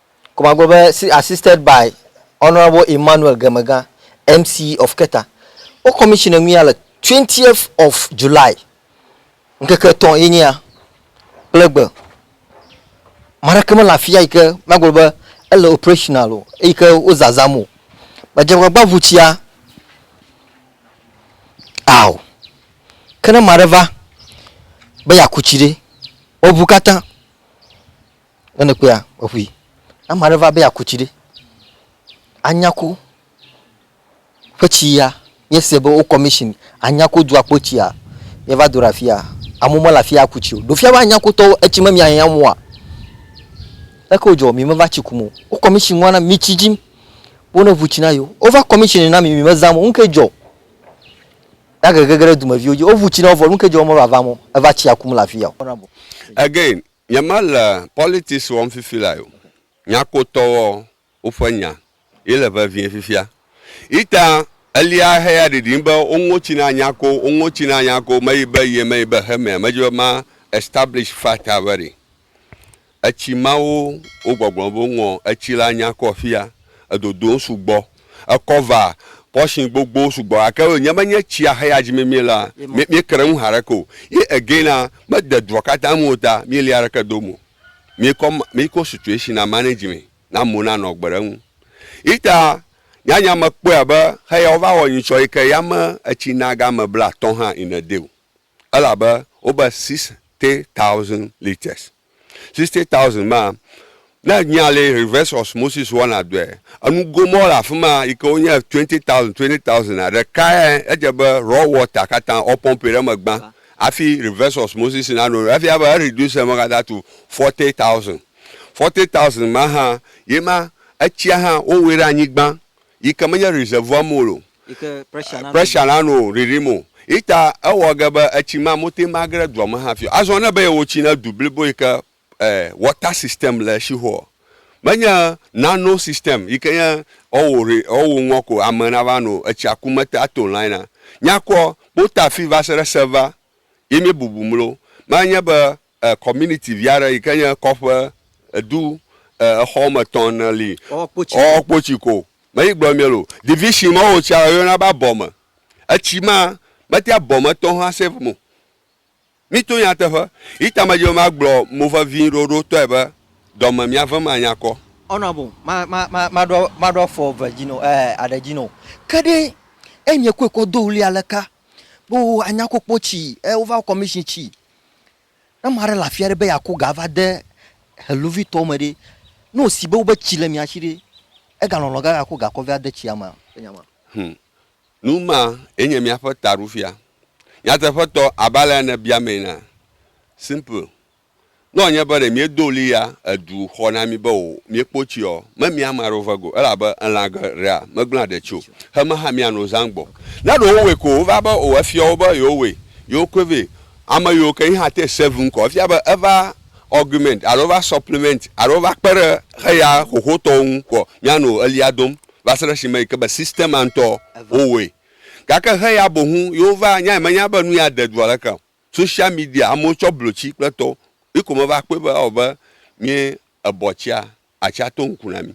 Komagbe be si assisted by Honourable Emmanuel Gemegã, MC of Keta. Wo commission enu ya le twentieth of July. Ŋkeke etɔ̃ ye nye ya kple egbe. Ame aɖeke mele afia yi ke magblɔ be ele operational o eyi ke wo zazãm o. Medze agbagba ŋu tsia ao. Ke ne ame aɖe va be yeaku tsi ɖe, woŋu katã Ne nèkpɔea, eƒoe. Ne ame aɖe va be yeaku tsi ɖe, Anyako ƒe tsi ya, míese be wo commission Anyako dua kpɔ tsia, míeva do ɖe afia, amewo mele afia aku tsi o. Ɖo fia be Anyakotɔwo etsi me miahiã mɔa? Leke wòdzɔ? Mi meva tsi kum o. Wo commission nua na mi tsi dzim be ne ŋu tsi na yewo. Wova commission na mi, mi mezam o. Nuke dzɔ? Na gege ge ɖe dumeviwo dzi. Woŋu tsi na wo vɔ, nuke dzɔ be womeva vam o? Eva tsia kum le afia o. Again, Nye me le politics wɔm fifi lae o. Nyakpotɔ wɔ wo ƒe nya ye le vevie fifia. Ita elia heya ɖiɖim be wo ŋo tsi na nyako, wo ŋo tsi na nyako, me yi be ye, me yi be he mea, me dzi be ma establish fact a very. Etsi mawo wo gbɔgblɔ be wo ŋɔ etsi la nyakɔ fia, edodom sugbɔ. ekɔ va portion gbogbo sugbɔ gake nye be nye tsia xe ya dzi mi mie la mi mi kre ŋu haɖe ko ye again la me de dua katã me o ta mi li aɖeke do mo mi kɔ mi kɔ situation na manage mi na mo na nɔ gbe ɖe ŋu ita nya nya me kpɔe abe xe ya wo va wɔ nyitsɔ yi ke ya me etsi na ga me bla tɔn hã in a day o Elabe wobe sixty thousand litres. Sixty thousand maa, ne ènyea le reverse osmosis wɔna dɔe, enugo mawo le afi ma yi ke wonye twenty thousand, twenty thousand a, ɖekae edze be raw water katã woapɔmpi ɖe eme gbã hafi reverse osmosis nanɔ nu. Efia be ereduce eme katã to forty thousand. Forty thousand ma hã, ye ma etsia hã wowɔe ɖe anyi gbã Yi ke menye reservoir mo lo. Yi ke pressure na pressure na no riri mo. Yi ta ewɔ ge be etsi ma mo te ma gre dua me hafi o. Azɔ ne be ye wo tsi ne du blibo yi ke eh water system le eshi ho ɔ, menye nano system yi ke nye ɔwo re ɔwo ŋɔ ko ame na va no etsia ku mete a to line a. Nyakɔ kpota fi va se ɖe server yi mi bubu mlo. Ma nye be E community vi aɖe yike nye kɔƒe edu e exɔ wɔme etɔ̃ ene li ɔɔ kpotsi ko me yi gblɔ miel o division ma wo tsia yɔna be abɔ me etsi ma mete abɔ me tɔ hã save mo mi to nyateƒe yi ta me dzi be ma gblɔ mo vevi ɖoɖo tɔe be dɔme mia vem anya kɔ. Honourable, ma ma ma ma ɖo ma ɖo afɔ eve dzi no e aɖe dzi no ke ɖe e nye koe kɔ do ɣli aleka be wo anya ko kpotsi e wo va commission tsi Ne ame aɖe le afi aɖe be yeaku ga ava de heluvitɔwo me ɖe, ne wòsi be wobe tsi le mia si ɖe, egalɔlɔ̃ be yeaku ga kɔ vɛ ade tsia mea? Hum! Nu ma ye nye míaƒe taɖofia. Nyateƒetɔ, abe alea nèbia mee enea? Simple. Ne wòanye be ɖe míedo ɣli ya edu xɔ na mí be o, míekpo tsi ɔ, memia ame aɖewo vɛ go o, elabe elã geɖea megblẽa ɖetsi o, hemehã míano zã gbɔ. Ne ɖe wowɔe ko wova be o efiɔ wo be yewowɔe, yewokɔe vɛ Ame yiwo ke yi hã te save ŋkɔ efia be eva augment alo eva supplement alo eva kpe ɖe xeya xoxotɔwo ŋu kɔ. Míanɔ ɣlia dom va se ɖe esime yi ke be system ma ŋutɔ wowɔe. Gake xeya boŋu yewo va nyae menya be nuya de dua leke o. Social media amewo tsɔ blotsi kple tɔwo yi ko meva kpɔe be ewɔ abe mí ebɔtsia Atsi ato ŋku na mí.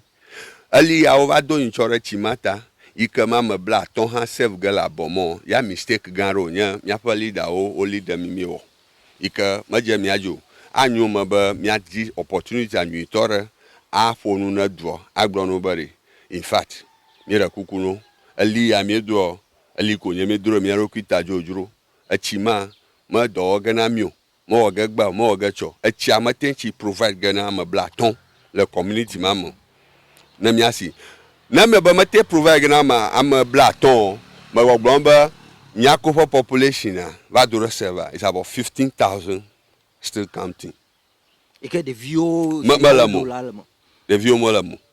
Eli ya wo va do nyitsɔ ɖe tsi ma ta yi ke ma me bla atɔ hã save ge le abɔ mɔ ya mistake gã ɖeo nye míaƒe leader wo wo leader mí mí wɔ yi ke me dze mía dzi o. A nyo me be mía di opportunity a nyui tɔ ɖe a ƒo nu ne dua a gblɔ no be ɖe in fact mí ɖe kuku no eli ya mí doɔ eli ko nye mí dro ɖe mía ɖokui ta dzodzro etsi ma me dɔ wɔ ge na mí o Mewɔ ge gbea o, mewɔ ge tsɔ. Etsia mete tsi provide ge na ame blatɔ le community ma me o. Ne mía si ne mebe mete provide ge na ame ame blatɔ o, me gbɔ gblɔm be mía ko ƒe population a va do ɖe server is about fifteen thousand still counting. Yi ke ɖeviwo si me le me o. Ɖeviwo me le me o.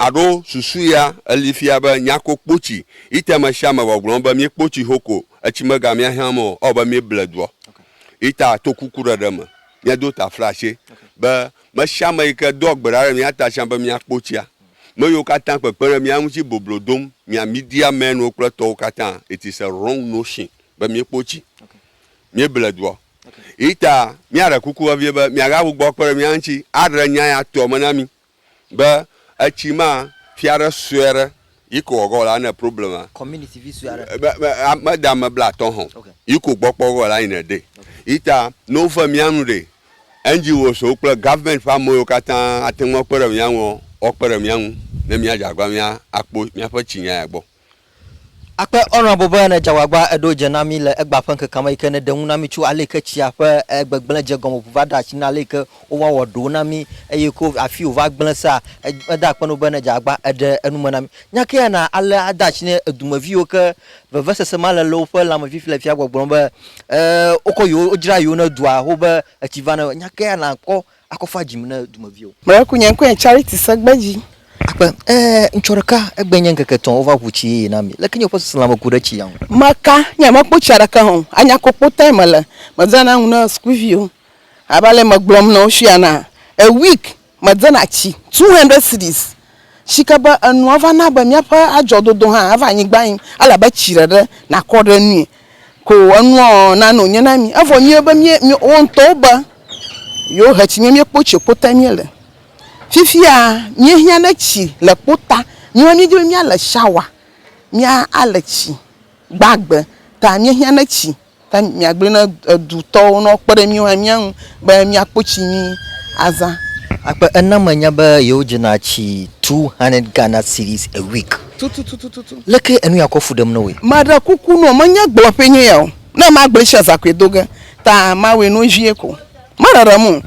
Aɖo susu ya eli fia be nya ko kpo ci ite me sia me vɔ gblɔm be mi kpo ci ho ko etsi me ga mia hiã me o ɔ be mi ble duɔ ita to kuku ɖeɖe me mia do ta fla se be me sia me yi ke doa gbe ɖa ɖe mia ta sia be mia kpo tsia me yiwo katã kpekpe ɖe mia ŋuti boblo dom mia media men wo kple tɔwo katã it is a wrong notion be mi kpo tsi mi ble duɔ ita mia ɖe kuku vevie be mia ga gbugbɔ kpe ɖe mia ŋuti aɖe nya ya tɔ me na mi Be etsi ma fia ɖe sue aɖe yi ko wɔgɔ la ne problem a. Community vi sue aɖe. Be be ame de ame bla atɔ hɔn yi ko gbɔ kpɔ gɔ la yi ne de. Yi ta ne wo fe mia nu ɖe NGO so kple government ƒe ame yiwo kata ate ŋu akpe ɖe mia ŋu ɔ, woakpe ɖe mia ŋu ne mia dze agba mia kpo mia ƒe tsi nya ya gbɔ. Akpe Honourable be ne dzagbagba eɖo dze na mí le egbea ƒe ŋkekea me yike ne ɖe ŋu na mí tso aleyike tsia ƒe gbegblẽ dze gɔme ŋu va ɖe asi na aleyike wova wɔ ɖowo na mí eye ko afi wova gblẽ sea, meda akpe na wò be ne dzagbagba eɖe enu me na mí. Nya ke ya na alea ade asi ne edume viwo ke vevesese ma le le woƒe lãme fifi le fia gbɔgblɔm be, e, wokɔ yewo, wodzra yewo ne dua xoxo be etsi va ne. Nya ke ya na kpɔ akɔ fa dzim ne dumeviwo. Mele ku nye ŋkɔe Charity Segbe dzi. Akpe, Ee, ŋtsɔ ɖeka, egbee nye ŋkeke etɔ̃ wova ʋu tsi yeye na mi. Leke nye woƒe susu lãme ku ɖe tsia ŋu? Meka, Nye mekpɔ tsia ɖeke hã o. Anya kpokpo tae mele. Medena nu na sukuviwo. Abe ale yi megblɔm na wo fia na, a week, medena tsi two hundred cedis si ke be enua va na be míaƒe adzɔdodo hã ava anyigba yim, ele abe tsi ɖeɖe nàkɔ ɖe enui ko enua nano wònye na mí. Evɔ míawo be mí wo ŋutɔwo be yewohe tsi mía míekpɔ tsi kpo tae míele. Fifia míehiã ɖe tsi le kpo ta, míawo hã míedi be míale shawa, míale tsi gbagbe ta míehiã ɖe tsi. Ke mìagblɔe na edutɔwo ne woakpe ɖe míwo hã mía ŋu be míakpɔ tsi nyui azã. Akpe ena menya be yewodzena tsi two hundred Ghana cedis a week. Tututututu. Leke enu ya kɔ fu ɖem na wòe? Meɖe kuku nɔ, menye gblɔƒee nye ya o. Ne magblɔe tsia, zãkoe do ge. Ta mawɔe nɔ vie ko. Meɖeɖem o.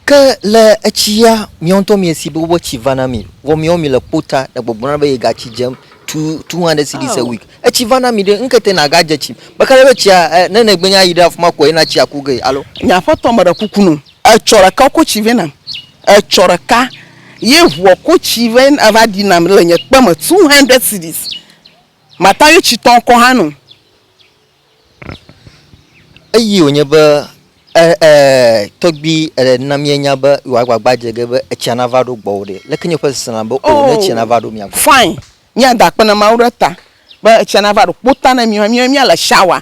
Ke le etsia, miawo ŋutɔ miesi be woƒe tsi va na mi, vɔ miawo mile kpo ta le gbɔgblɔna be yegatsi dzem tututu aɖe si ɖi se wik. Etsi va na mi ɖe, ŋkete nàgadze tsim. Meka ɖe be tsia, e, ne nègbe nye ayi ɖe afi ma koe na tsi aku ge, alo? Nye aƒetɔ, meɖe kuku nɔ, etsɔ ɖeka wokɔ tsi vɛ nam. Etsɔ ɖeka ye ŋuɔ kɔ tsi vɛ va ɖi nam le nye kpe me, two hundred cedis. Mata ye tsitɔ ŋkɔ hã nɔ. Eyi wònye be eh eh tɔgbui eh na míenya be wò agbagba dze ge be etsia nava ɖo gbɔwò ɖe. Leke nye ƒe seselẽ be o ne etsia nava ɖo mia gbɔ. Fine, míada akpe na Mawu ɖe ta be etsia nava ɖo kpota na mí, míale shower.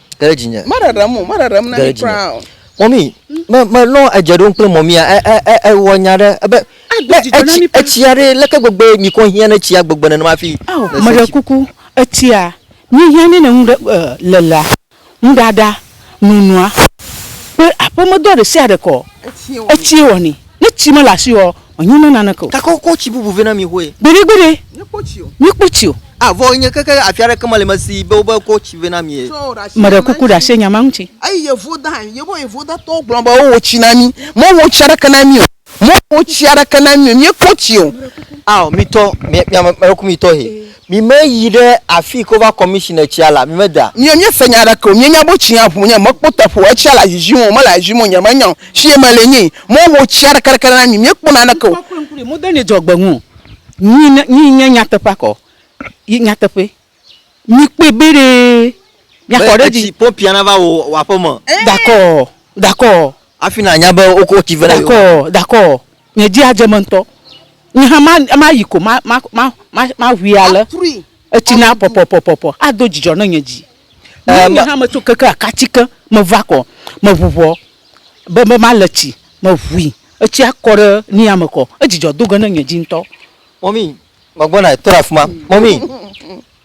Ɖe dzinye. Meɖeɖem o, meɖeɖem na mi kura o. Mɔmi, me me lɔ edze ɖom kple mɔmia e e e ewɔ nya ɖe ebe. Ado dzidzɔ na mi paa. Etsia ɖe leke gbegbe mi kɔ hiã ne tsia gbegbe nenema fi. Ao, meɖe kuku, etsia mi hiã ne ne nu ɖe e lelea, nuɖaɖa, nunua, kple aƒemedɔ ɖe sia ɖe kɔ, etsie wɔni. Ne tsi mele asi o ɔ, Wònye me naneke o. Gake wokɔ tsi bubu vɛ na mi xoe. Gbeɖegbeɖe, Míekpɔ tsi o. míekpɔ tsi o. A Vɔ wònye keke afi aɖeke meli me si be wobe kɔ tsi vɛ na mi e. Meɖe kuku ɖe asi nya ma ŋuti. Eyi Yevuda, Yevu, Yevudatɔwo gblɔ be wowɔ tsi na mí. Mewɔ tsi aɖeke na mí o. Mewɔ tsi aɖeke na mí o. Míekpɔ tsi o. Ao, mitɔ, mi, mi ame, ame ɖekumitɔ he. Mi me yi ɖe afii ke wova kɔmi tsi ne tsia la, mi me da. Miɔ mie se nya ɖeke o, mie nya bo tsia ƒu nye me kpo teƒe o, etsia la zizim o, me la zizim o, nye me nya o, tsie me le nyi, mo ho tsia ɖeke ɖeke na mi, mie kpo na ɖeke o. Mo de nɛ dzɔ gbe ŋu o, nyi ne, nyi nye nya teƒea kɔ, yi nya teƒe, mi kpɔe be ɖe mia kɔ ɖe dzi. Etsi pompia na va wo wò aƒeme. Dakɔ, dakɔ. Afi na nya be wo ko tsi vɛ na yewo. Dakɔ, dakɔ. Nye dzi adze eme ŋutɔ. Nye hã ma, mayi ko ma, ma, ma, ma, maʋui ale. Etsi na pɔpɔpɔpɔpɔ. Ado dzidzɔ ne nye dzi. Eye nye hã metso keke akati ke, meva kɔ, meʋuʋɔ be, be male tsi. Meʋui. Etsia kɔ ɖe nia me kɔ. Edzidzɔ do ge ne nye dzi ŋutɔ. Mɔmi, gbɔgbɔna, tɔ ɖe afima. Mɔmi.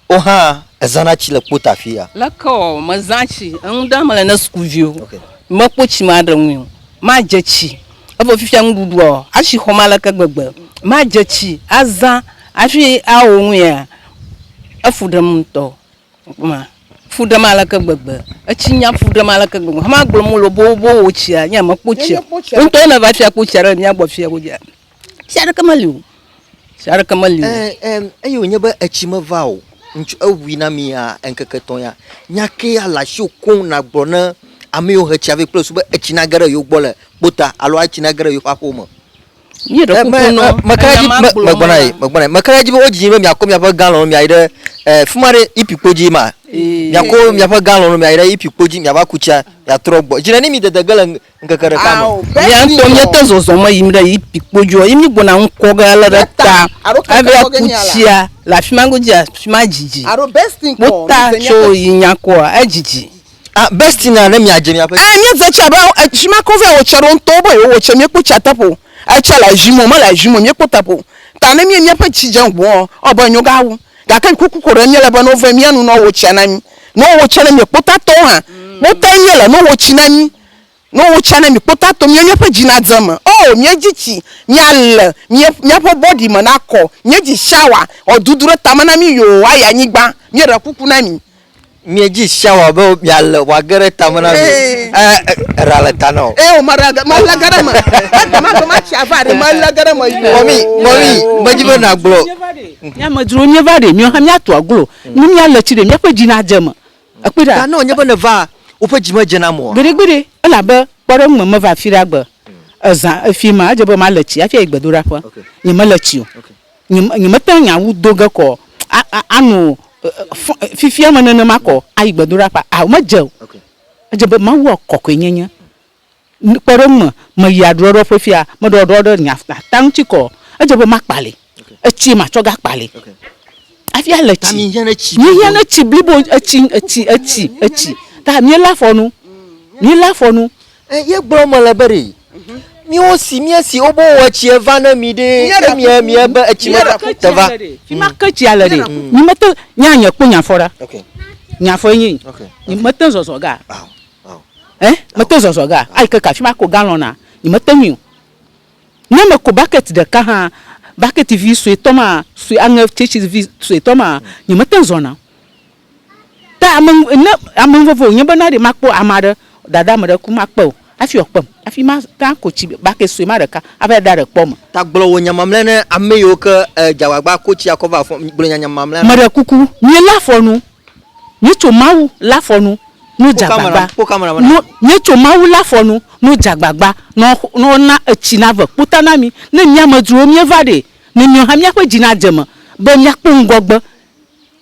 Wò hã èzãna tsi le kpota afi ya? Leke ɔ, mezã tsi. Enu ɖe mele ne sukuviwo. Mekpɔ tsi maɖe ŋui o. Madze tsi. Evɔ fifia nuɖuɖu ɔ, atsi xɔm aleke gbegbe. Madze tsi azã hafi awo nuya, efu ɖem ŋutɔ. Ekpɔ ma? Efu ɖem aleke gbegbe. Etsi nya fu ɖem aleke gbegbe. Hama gblɔ mɔ lobobo wò tsia, nye mekpɔ tsi o. Wò ŋutɔ ne va fia kpɔ tsia ɖe le mía gbɔ fiya godzi a? Tsi aɖeke meli o. Tsi aɖeke meli o. Ɛɛ, eye wònye be etsi meva o, ŋutsu eŋui na mi ya ŋkeke etɔ̃ ya, nya ke ya le asiwò koŋ nàgblɔ ne ame yiwo he tsia vɛ kple su be etsi nage ɖe yewo gbɔ le kpota alo etsi nage ɖe yewoƒe aƒewo me. Míeɖe kuku nɔ enya ma gblɔm na. Meka ɖe edzi be wodzi yín be miakɔ miaƒe galɔn miayi ɖe, ɛɛ, fi ma ɖe Ipi kpo dzie ma? Miakɔ miaƒe galɔn miayi ɖe Ipi kpo dzi miava ku tsia miatrɔ gbɔ. Dzi neni mi dede ge le ŋkeke ɖeka me. Mía ŋutɔ míete zɔzɔm yim ɖe Yipi kpo dzia, ye mígbɔna ŋkɔ ge ale ɖe ta hafi aku tsia le afi ma godzi afi ma dzidzi. Wota tso yi nya kɔa, edzidzi. Ah, Bestie na ne miadze miaƒe. Eh, míedze tsi abe fi ma ke wovea wotsia ɖo ŋutɔ, wobe yewowɔ tsia, míekpɔ tsia teƒe o. Etsia le zim o, mele zim o, míekpɔ teƒe o. Ta ne míe míaƒe tsi dze ŋu ɔ, ewɔ abe enyo gawu. Gake ŋkuku ko ɖe míele be nove míanu nɔ wo tsia na mí. Nɔ wo tsia ne mí kpota tɔwo hã kpota ye míele nɔ wo tsi na mí. Nɔ wo tsia ne mí kpota to mía míaƒe dzi na dze me. Oh, míedzi tsi, mía le, mía míaƒe bɔdi me na kɔ, míedzi shawa, wɔ dudu ɖe tame na mí yoo ayi anyigba. Míeɖe kuku na mi. Mìa dzi sia wɔ be mìa le wɔ age ɖe tame na mi. Ɛ ɖa le ta na o. Ɛ o ma ɖa ge ma le ge ɖe me. Ɛ ta ma ge ma tsi ava ɖe ma le ge ɖe me yi. Mɔmi mɔmi me dzi be na gblɔ. Mi amedzrowo nye va ɖe mìɔ hã mìa to aglo ni mìa le tsi ɖe mìa ƒe dzi na dze me. Ekpɔe ɖa. Ta ne wònye be ne va woƒe dzi me dze na mɔ. Gbeɖe gbeɖe elabe kpɔɖeŋu me me va afi ɖe agbe. Ezã efi ma edze be ma le tsi afi ayi gbedoɖa ƒe. Nye me le tsi o. nyemete ŋu nya wu do ge kɔ ano fifia me nenema kɔ ayi gbedoɖaƒea? Ao, medze o. Edze be Mawua kɔkɔe nyenye. Kpe ɖe eŋu me, meyi aɖuɖɔɖɔ ƒe fia, meɖɔ ɖuɖɔɖɔ ɖe nye ata ŋuti kɔ, edze be makpalii. Etsie matsɔ ge akpalii. Hafi ale tsi. Míehiã ɖe tsi blibo, etsi, etsi, etsi, etsi. Ta míelé afɔ nu. Míelé afɔ nu. E ye gblɔ me le be ɖe. Mhm. Miwo si mie si wo bo wɔ tsi eva ne mi ɖe. E mie mie be etsi me ta te va. Fi ma ke tsia le ɖe. Nyi me te nya nye kpɔ nya fɔ ɖa. Nya fɔ enyi. Nyi me te zɔzɔ ga. Eh me te zɔzɔ ga. Ayi ke ka fi ma ko galɔn na. Nyi me te nyi. Ne me ko bucket ɖeka hã bucket vi sue tɔ ma sue aŋe tsetsi vi sue tɔ ma nyi me te zɔna. Ta ame ne ame nuvevi wònye be na ɖe makpɔ ame aɖe, dada ame aɖe ku makpe o hafi wòakpem hafi mate ŋu ako tsi bake sue ma ɖeka ava yi aɖaɖe kpɔ eme. Ta gblɔ wò nya mamlɛa ne ame yiwo ke èdze agbagba ako tsi akɔ va afɔ me. Gblɔ nyanya mamlɛa na wo. Meɖe kuku, míelé afɔ nu. Míetso Mawu lé afɔ nu ne wodze agbagba. Ne míetso Mawu lé afɔ nu ne wodze agbagba ne woana etsi nave kpota na mí. Ne mía amedzrowo míeva ɖee, ne míawo hã míaƒe dzi nadze eme be míakpɔ ŋgɔgbe.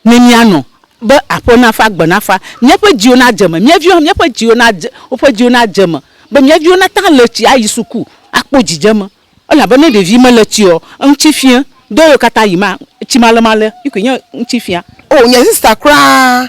Ne míanɔ be aƒe nafa, gbe nafa, míaƒe dziwo nadze eme, mía viwo hã míaƒe dziwo nadze, woƒe dziwo nadze eme be mía viwo nate ŋu ale tsi ayi suku akpɔ dzidzeme. Elabena ne ɖevi mele tsiɔ, eŋuti fiã. Dɔ yiwo katã yi ma, tsimalemale yi koe nye eŋuti fiã. Oo, nye sista kura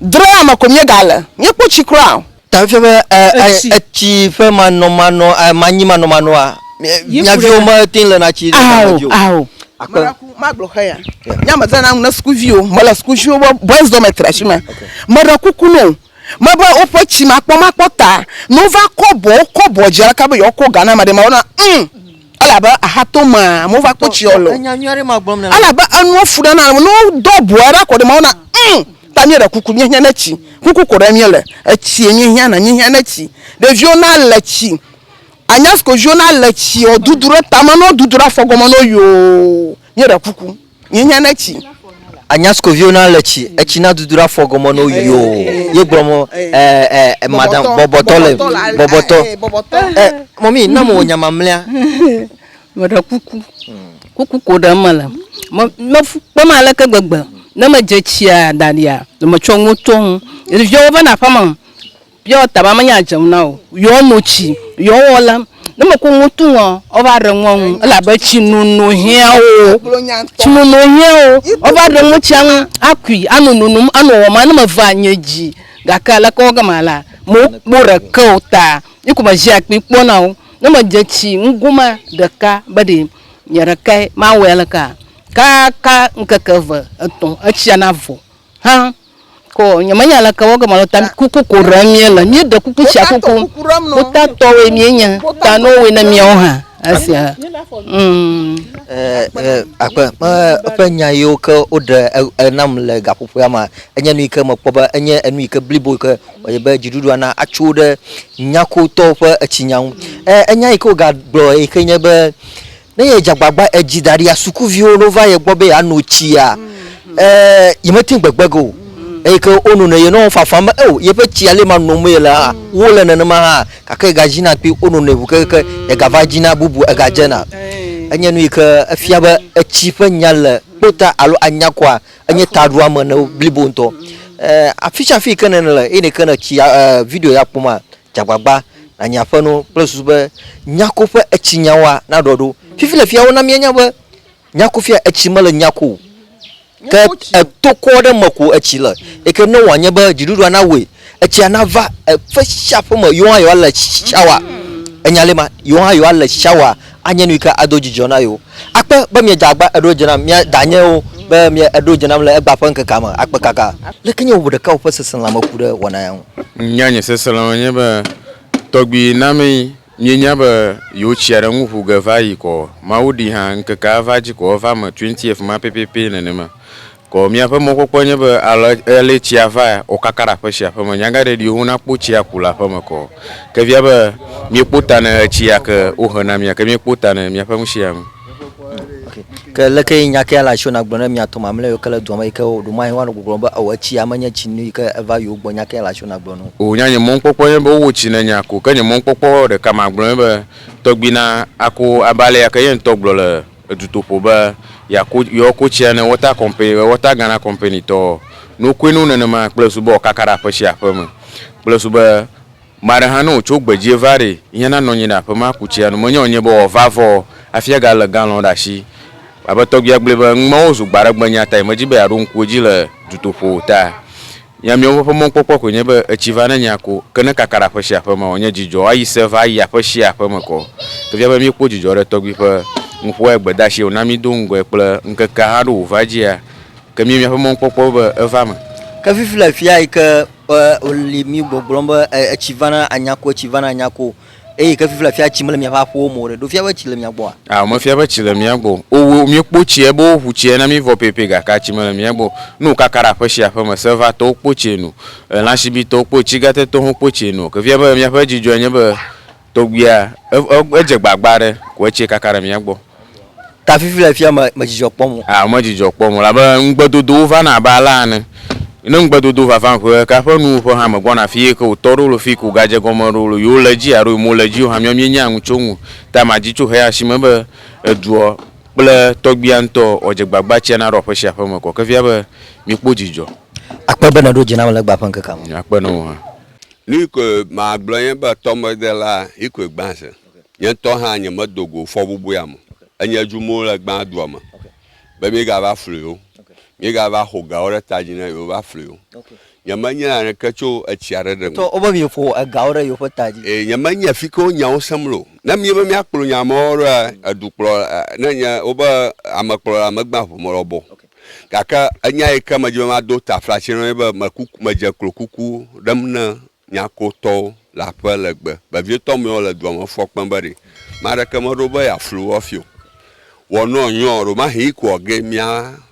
Drea me ko míegale. Míekpɔ tsi kura o. Ta efia be etsi ƒe manɔmanɔ, manyi manɔmanɔa, mia viwo mete le na tsi ɖe ta me dzi o. Ao, ao. Meraku magblɔ xe ya. Nya me zãna nu na sukuviwo. Mele sukuviwo be boys dormitory ashi me. Meɖe kuku no o. Mebe woƒe tsi makpɔ makpɔ ta. Ne wova kɔbɔ, wokɔbɔ dzi aleke be yewoakɔ ga na ame ɖe ma, wona, umm, Elabe ahatomea amewo va kpɔ tsia lɔ. Elabe enua fu ɖe na ame. Ne wodo abɔe ɖa kɔ ɖe Mawu na ŋ ta míeɖe kuku míehiã ne tsi. Kuku ko ɖe míele. Etsie míehiã na míehiã ne tsi. Ɖeviwo na le tsi. Anya siko viwo na le tsi o dudu ɖe tame ne wodudu ɖe afɔ gɔme ne wo yoo míeɖe kuku. Nye nya ne tsi. Anya siko viwo na le tsi. Etsi na dudu ɖa fɔ gɔme no yo. Ye gblɔ mo ɛ ɛ ɛ madam bɔbɔtɔ le bɔbɔtɔ. Ɛ mɔmi na mo nya mamlea. Meɖe kuku. Kuku ko ɖe me le. Me me fu kpem ale ke gbegbe. Ne me dze tsia daɖia me tsɔ nuwo tɔnu. Ɖeviawo va na ƒe me. Piɔ taba me nya dze ŋu na o. Yɔ no tsi yɔ wɔ la. Ne me ko ŋu tu ŋɔ ɔ va ɖe ŋɔ ŋu ela be tsi nunu hiã wo. Tsi nunu hiã wo. Ɔ va ɖe ŋɔ tsia ŋu a kui a nu nunum a nu wɔ ma ne me va nye dzi gake aleke wɔ gama la me wo kpo ɖe ke o ta yi ko me zi akpi kpɔ na wo. Ne me dze tsi ŋgo ma ɖeka be ɖe nye ɖekae ma wɔe alekea kaka ŋkeke eve etɔ etsia na vɔ hã. Ko nyemenya aleke wɔ gema lo ta kuku ko ɖem míele. Míeɖe kuku tsia kuku. Kutatɔwoe míenye. Ta ne wowɔe na míawo hã esia. Mm. Akpe eƒe nya yiwo ke woɖe enam le gaƒoƒoa me enye nu yi ke mekpɔ be enye enu yi ke blibo yi ke wɔe be dziɖuɖua na atso ɖe nyakotɔwo ƒe etsinya ŋu. Enya yi ke wogagblɔ yi ke nye be Ne yedze agbagba edzi da ɖia, sukuviwo no va ye gbɔ be yeano tsia, eh, yemete ŋu gbegbe ge o. Eyi ke wono nɛ ye nɔ wo fafam be, oh, yeƒe tsia le ma nom yele hã, wo le nenema hã. Gake yegadzina kpi wono nɛ ŋu kekeke yegava dzina bubu egadzena. Enye nu yi ke efia be etsi ƒe nya le kpota alo anya kɔa enye taɖoame ne wo blibo ŋutɔ. Eh, afi sia afi yi ke nèle, eyi ne ke nètsi, eh, video ya kpɔm maa, Dze agbagba nànyi aƒenɔ kple susu be nyako ƒe etsinyawoa naɖɔ ɖo. Fifi le fiawo na míenya be nyako fia etsi mele nyako o, ke etokɔ ɖe eme ko etsi le. Eke ne wòanye be dziɖuɖua nawɔe etsia nava eƒe sia ƒe me, yewo hã yewoale shawa. Enya li ma, yewo hã yewoale shawa. Anye nuyi ke ado dzidzɔ na yewo. Akpe be miedze agba eɖo dze nam, mia danyewo be mie eɖo dze nam le egba ƒe ŋkekea me akpe kaka. Leke nye wò ɖeka wò ƒe seselãme ku ɖe wɔna ya ŋu? Nya nye seselãme nye be tɔgbi namee mienya be yewo tsia ɖe ŋu ƒu ge va yi kɔ. Mawu ɖi hã ŋkekea va dzi kɔ eva me twentieth ma pɛpɛpɛ nenema. Ko miaƒe mɔkpɔkpɔe nye be ale ale tsia va wòkaka ɖe aƒe sia aƒe me, nyagaɖe ɖi wo nakpo tsia ku le aƒe me kɔ. Ke via be miekpo ta ne etsia ke wohe na mia, ke miekpo ta ne miaƒe ŋusia ŋu. Okay. Ke leke yi nya kea le asi wona gblɔ ne mia tɔ mamlɛ yiwo ke le dua me yi ke ɖo mahe woanɔ gbɔgblɔ be ewɔ etsia menye tsi nu yi ke eva yewo gbɔ nya kea le asi wona gblɔ no. O nya nye mɔkpɔkpɔe nye be wowɔ tsi ne nya ko, ke nye mɔkpɔkpɔ ɖeka magblɔ nye be tɔgbi na ako abe ale ya ke ye ŋutɔ gblɔ le Edutoƒo be yeako, yewoako tsia ne Water Company be Water Ghana Company tɔ nokoe no nenema kple su be wòkaka ɖe aƒe sia aƒe me kple su be me aɖe hã ne wòtso gbedzie va ɖee, yihã nanɔ anyi ɖe aƒe me aku tsia nu. Menye wònye be wòava vɔ hafi agalé galɔn ɖe asi. Abe tɔgbuia gblɔe be numawo zu gbaɖegbenya tae medi be yeaɖo ŋku edzi le dutoƒo o ta. Nya miawo ƒe mɔkpɔkpɔ koe nye be etsi va ne nya ko, ke ne kaka ɖe aƒe sia aƒe mea, wòanye dzidzɔ ayi se va ayi aƒe sia aƒe me kɔ. Efia be míekpɔ dzidzɔ ɖe tɔgbui ƒe nuƒoa gbedeasie wòna mído ŋgɔe kple ŋkekea haɖo wòva edzia, ke míe míaƒe mɔkpɔkpɔ be eva eme. Ke fifi le afia yi ke wòli mí gbɔgblɔm be etsi va ne anya ko, etsi va ne anya ko. Eye ke fifia fia tsi mele miaƒe aƒewo me o ɖe, ɖo fia be tsi le mia gbɔa? Ao, mefia be tsi le mía gbɔ o. O, wo, míekpo tsie be woʋu tsie na mí vɔ pɛpɛ, gakea tsi mele mía gbɔ o. Ne wòkaka ɖe aƒe sia aƒe me, Sèvatɔwo kpo tsie nu, lãsibitɔwo kpo, tsigatetɔwo hã kpo tsie nu o. Ke fia be míaƒe dzidzɔe nye be tɔgbuia, e, e, edze gbagba aɖe ko etsie kaka ɖe mía gbɔ. Ta fifi le fia me dzidzɔ kpɔm o. Ah, me dzidzɔ kpɔm o, labe ŋugbedodowo vana abe alea ene. Ne ŋugbedodo vava ƒe ɖeka ƒe nuwuƒe hã me gbɔna afi eye ke wòtɔ ɖo lo fi ko wògadze egɔme ɖo lo yewole edzi alo yemewole edzi o hã, míawo míenyaa nu tso eŋu. Ta madi tso heya si me be eduɔ kple tɔgbuia ŋutɔ wòadze gbagba tsia naɖo aƒe sia aƒe me kɔ. Ke fia be mikpɔ dzidzɔ. Akpe be nèɖo dzi nam le egbea ƒe ŋkekea me. Akpe na wò hã. Nuyi koe magblɔ nye be tɔmedela yi koe gbã zi. Nye ŋutɔ hã nyemedo go fɔbubua me. Enye dzum wole gbãa dua me be míegava flui wo, míegava xo gawo ɖe ta dzi na yewo va flui wo. Nyemenye naneke tso etsia ɖe ɖe ŋu. Wobe míeƒo egawo ɖe yewo ƒe ta dzi. Ee, nyemenye fi ke wo nyawo sem le o. Ne míebe míakplɔ nya mawo ɖoa, edukplɔla, ne nye, wobe amekplɔla megbea ŋu me lɔbɔ o. Gake enya yi ke medi be mado taflatse na wo nye be, mekuku, medze klo kuku ɖem ne Nyakotɔwo le aƒe le gbe vevietɔ mɛ wo le dua me fɔ kpɛn be ɖe mɛ aɖeke meɖo be yeaflu wo hafi o. Wɔ nɔ nyɔ ɔ, ɖomahi yi kɔ ge mía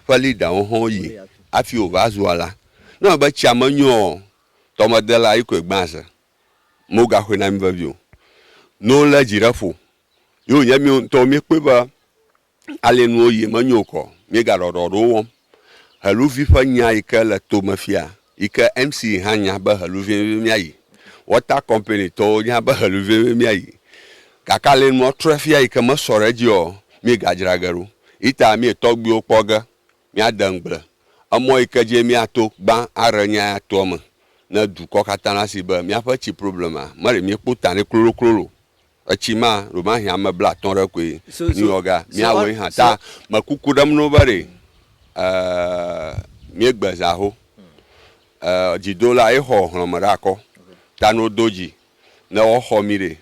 ƒe leader wo hã wo yi hafi wo va zua la. Ne eme be tsia me nyɔ ɔ, tɔmedela yi kɔe gbã ze. Mo ga xɔe na mí vevi o. No le dzi ɖe ƒo. Yo nye mí ŋutɔwo mí kpɔe be Ale nuwo yie menyo o kɔ, míegaɖɔ ɖɔ ɖewo wɔm. Heluvi ƒe nya yi ke le to me fia yi ke MC hã nya be helu vevie míayi. Water Company tɔwo nya be helu vevie míayi. Gake ale nua trɔe fia yi ke mesɔ ɖe edzi ɔ, míegadzra ge ɖo. Ita míe tɔgbuiwo kpɔ ge míade ŋugble emɔ yi ke dzie míato gbã aɖe nya ya toa me ne dukɔ katã nasi be míaƒe tsi problema meɖe míekpɔ ta nɛ kloloklolo o. Etsi ma ɖomahĩ ame bla atɔ̃ ɖe koe New York ga, míawɔe hã ta me kuku ɖem no be ɖe mí gbe zã ho dzi do la ye xɔ hlɔ̃ me ɖe akɔ ta no do dzi ne wɔ xɔ mí ɖe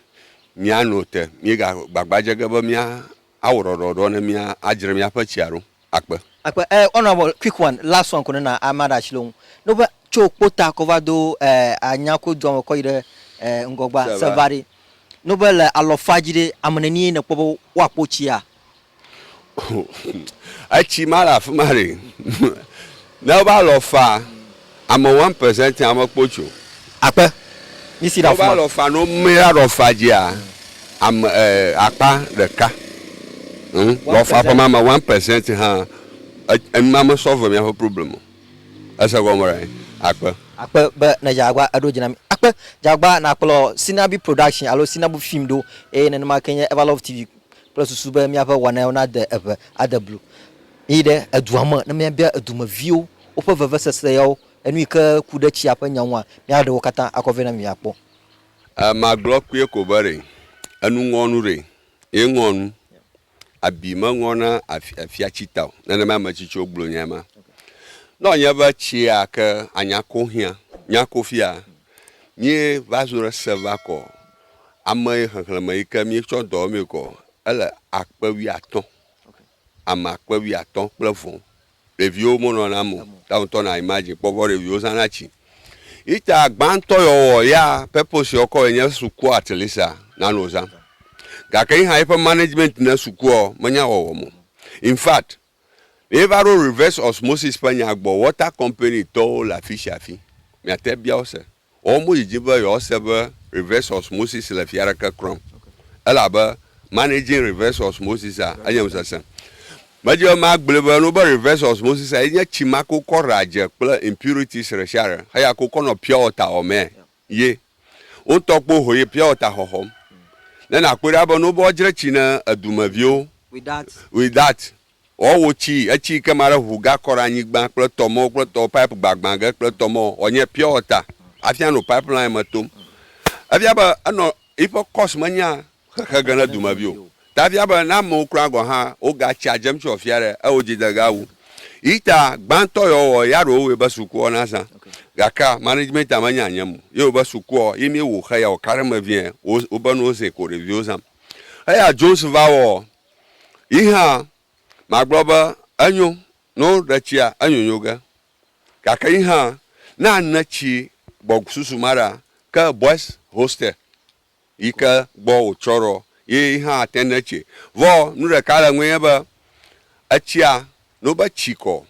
mía no te mí ga gbagba dze ge be mía Awɔ ɖɔɖɔɖɔ ne mía adzre míaƒe tsia ɖo akpe. Akpe eh ɔnɔ avɔ quick one last one ko ne na ama ɖe atsi loŋ no ƒe tso kpota kɔ va do eh anya ko dua me kɔ yi ɖe eh ŋgɔgba seva ɖe no ƒe le alɔ fa dzi ɖe ame neni ye ne kpɔ be wo akpo tsia. Etsi ma le afima ɖe ne wo va lɔ fa Ame one percent tia me kpo tso. Akpe. Mi si ɖe afima. Wo va lɔ fa no mi la ɖɔ fa djia ame akpa ɖeka ŋ lɔ fa ƒe ma me one percent ha enu ma me sɔ ve mia ƒe problem o. Ese gɔme ɖa nyi? Akpe. Akpe be ne Djagba eɖo dji na mi. Akpe. Djagba na kplɔ Sinabi production alo Sinabu film ɖo eye nenema ke nye Everlove TV kple susu be mia ƒe wɔnaewo na de eŋe ade blu. Mi yi ɖe edua me ne mia bia edu me viwo woƒe vevesese yawo, enu yi ke ku ɖe tsia ƒe nya ŋua, míaɖe wo katã akɔ vɛ na mi miakpɔ. E, magblɔ kpuie ko be ɖe enu ŋɔ nu ɖe? Ye ŋɔ nu. Abi meŋɔ na afi, afia tsi ta o. Nenema ame tsitsiwo gblɔ nyae ma. Ne wònye be tsia ke anya ko hiã, nya ko fia, míe va zo ɖe se va kɔ ame xexlẽme yi ke míetsɔ dɔ wɔmee kɔ, ele akpe wuiatɔ̃, ame akpe wuiatɔ̃ kple vɔ ɖeviwo mo nɔna mo ta ŋtɔ na imagine kpɔ vɔ ɖeviwo zana tsi ita gbãtɔ yɔ wɔ ya purpose yɔ kɔ enye sukua at least a na no zã gake yi hã yi ƒe management ne sukua ɔ me nya wɔwɔ mo in fact yi va ɖo reverse osmosis ƒe nya gbɔ water company tɔwo le afisiafi mia te bia wo se. Wɔwɔ mo yi dzi be yewoase be Reverse Osmosis le fia aɖeke klɔm. Elabe Managing Reverse Osmosis a enye ŋusesẽ. Medi be magblɔe be nu be Reverse Osmosis a ye nye tsi ma ke wokɔ ɖea dze kple impurities ɖesiaɖe heya ke wokɔ nɔ pure water wɔmee ye. Wotɔ kpo ho ye pure water xɔxɔm. Ne nakpɔe ɖa be nu be woadzre tsi ne edumeviwo with that Ɔ wo ci etsi ke ma ɖe ʋu ga kɔ ɖe anyigban kple tɔ mɔ kple tɔ pipe gbagbã ge kple tɔ mɔ ɔ nye pure water afia no pipe line me tom. Efia be enɔ yiƒe course me nya xexe ge ne dumevi o. Ta efia be ne amewo kura gɔ hã wo ga tsia dzem tso afia ɖe eo dzi de ga wu. Yi ta gbãtɔ yɔ wɔ ya ɖo woe be suku ɔ na zã. Gakea management a me nya nyem o. Ye wo be suku ɔ yi mi wo xe ya wo ka ɖe me vie wo be no zin ko ɖeviwo zam. Eya Jones va wɔ Yi hã magblɔ be, Enyo, ne woɖe tsia, enyonyo ge. Gake yi hã, ne ane tsi gbɔ susu ma ɖa, ke Boys Hostel yi ke gbɔ wòtsɔ ɖo ye yi hã ate ŋu ne tsi. Vɔ nu ɖeka le eŋue nye be, etsia, No be tsi kɔ.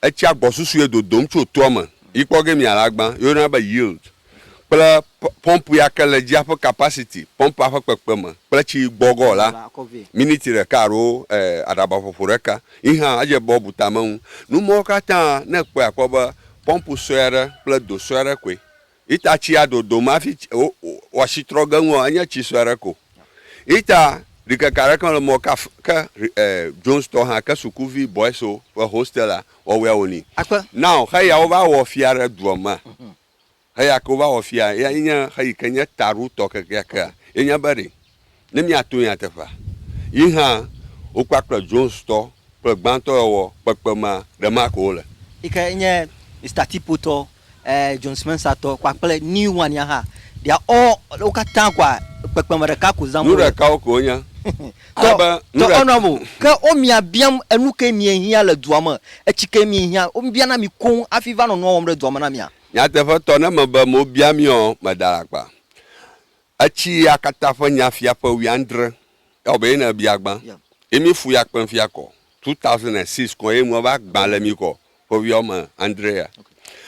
Etsia gbɔ susu ye dodom tso toa me yi kpɔ ge mia le agba ye woyɔna be yield kple pɔmpu ya ke le dzia ƒe capacity pɔmpua ƒe kpekpeme kple tsi gbɔ gɔ la miniti ɖeka alo aɖaba ƒoƒo ɖeka yi hã edze be wobu tame ŋu. Numɔwo katã ne ekpɔe akpɔ be pɔmpu sue aɖe kple do sue aɖe koe Ita tsia dodom hafi wɔsi trɔ ge ŋua, enye tsi sue aɖe ko. Ita ɖikeke aɖeke mele mɔ kaf ke e Jones tɔ hã ke sukuvi bɔɛso ƒe hostelea wɔwɔea woni. Akpe. Now heya wova wɔ fia ɖe dua mea, heya ke wova wɔ fia, eya nye heyi ke nye taɖotɔ kekeakea, ye nye be ɖe ne míato nyateƒea. Yi hã, wo kpakple Jonestɔ kple gbãtɔyɔwɔ kpekpemea ɖe ma ko wole. Yi ke nye Mister Tipo tɔ, ɛɛ, Jones Mensah tɔ kpakple New One ya hã, they are all, wo katã koa, kpekpeme ɖeka ko zãm wole. Nu ɖekawo ko wonye. Ale be, nu Tɔ, ɖe. honorable, ke wo mia biam enu ke mie hiã le dua me, etsi ke mie hiã, wo bia na mi koŋ hafi va nɔ nua wɔm ɖe dua me na mia. Nyateƒetɔ, ne mebe mobia mia, meɖa alakpa. Etsi ya katã ƒe nya fia ƒe wuiadre. Ewɔ be ye ne ebia gbã. Ye mi fu ya kpem fia kɔ. 2006 kɔ ye nua va gbã le mi kɔ ƒe wuia wɔme andre ya.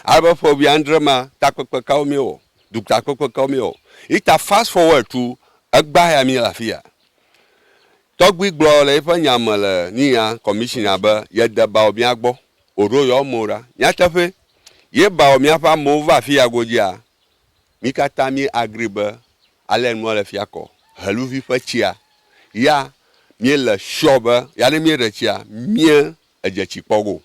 Ale be ƒe wuiadre ma takpekpe kawo mi wɔ? Dutakpekpe kawo mi wɔ? Yi ta fast forward to egbã ya mi le afi ya. Tɔgbui gblɔ le yi ƒe nya me le nuya commissioner be ye de bawɔ mia gbɔ. Oɖo yewo amewo ɖa. Nyateƒe. Ye bawɔ mia ƒe amewo va afi ya godzia, Mí katã mí agree be ale nua le fia kɔ heluvi ƒe tsia ya mí le sure be ya ne mí ɖe tsia mí edze tsi kpɔ go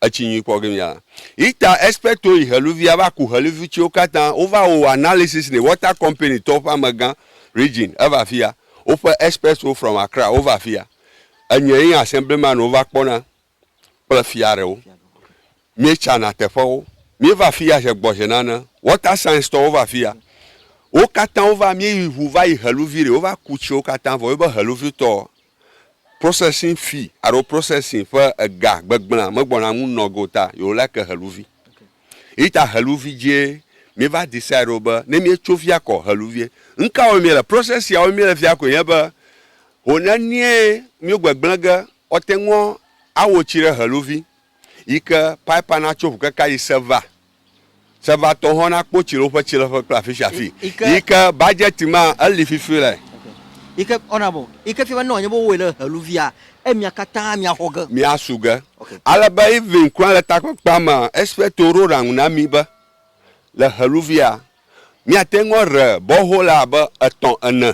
etsi nyui kpɔ ge mí a yi ta expect wo yi heluvia va ku heluvi tsiwo katã wo va wo analysis ne water company tɔwo ƒe amegã region eva fia woƒe expect wo from Accra wo va fia enye yi asem blema ne wo va kpɔ na. kple fia ɖewo. Míetsana teƒewo. Míeva afi ya ʒe gbɔ ʒe nane. Water Science tɔwo va afi ya. Wo katã wova, míeyi ŋu va yi Heluvi ɖe. Wova ku tsiwo katã vɔ. Wobe Heluvi tɔ, processing fee alo processing ƒe ega gbegblẽa megbɔna ŋu nɔ ge o ta yewo like Heluvi. Eyi ta Heluvi dzie míeva decide ɖo be ne míetso fia kɔ Heluvie. Nuka wɔm míele? Process sia wɔm míele fia koe nye be, ho nenie míegbegblẽ ge Ɔte ŋɔ awo tsi ɖe heluvi yi ke paipa na tso ŋu keka yi seva. Seva tɔ hɔn na kpo tsi ɖe woƒe tsileƒe kple afi sia afi yi ke bajɛti ma eli fifi le. Yi ke ɔna bɔ yi ke fia be ne wòanye be wowɔe ɖe heluvia emia katã mia xɔ ge. Mia su ge ale be even kura le takpekpea mea expertwo ɖo ɖaŋu na mi be le heluvia mia te ŋɔ re bɔhola abe etɔ ene.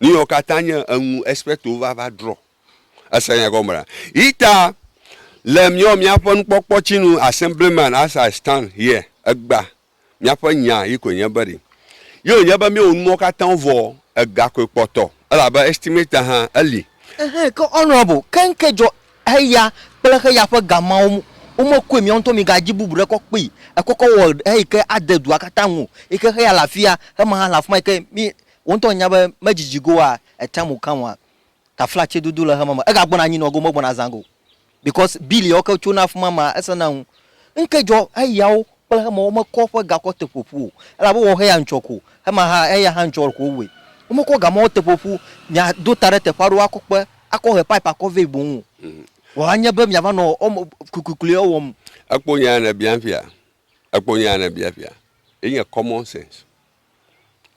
Nuyɔ katã nye eŋu especto va va drɔ. Ese nya gɔme ɖa. Yita le miɔ miaƒe nukpɔkpɔ tsi nu Assemblyman as I stand here egba miaƒe nya yi koe nye be ɖi. Yio nye be miwo numɔ katã wo vɔ ega koe kpɔtɔ elabe estimator hã eli. Ehe ke honorable ke ŋke dzɔ heya kple heya ƒe ga mawo mu wo me koe miawo ŋutɔ mi ga dzi bubu ɖe kɔ kpee ekɔ kɔ wɔ eyi ke ade dua katã ŋu o yi ke heya le afia hema hã le afima yi ke mi Wò ŋutɔ ènya be medzidzi go wa a time will come wa taflatse dodo le xema me ega gbɔna anyi nɔ go megbɔna azã go because bill yawo ke tsona afima ma ese na ŋu ŋke dzɔ eyawo kple xema wo me kɔ ƒe gakɔ te ƒoƒu o elabe wɔ xe ya ŋtsɔ ko xema ha eya ha ŋtsɔ ko woe wo me kɔ gamawo te ƒoƒu mia do ta ɖe teƒe aɖewo akɔ kpe akɔ he pipe akɔ vɛ boŋ o vɔ anye be mia va nɔ ɔme kukuikui ɔ wɔm. Ekpo nya ya ne bia fia ekpo nya ya ne bia fia enye common sense.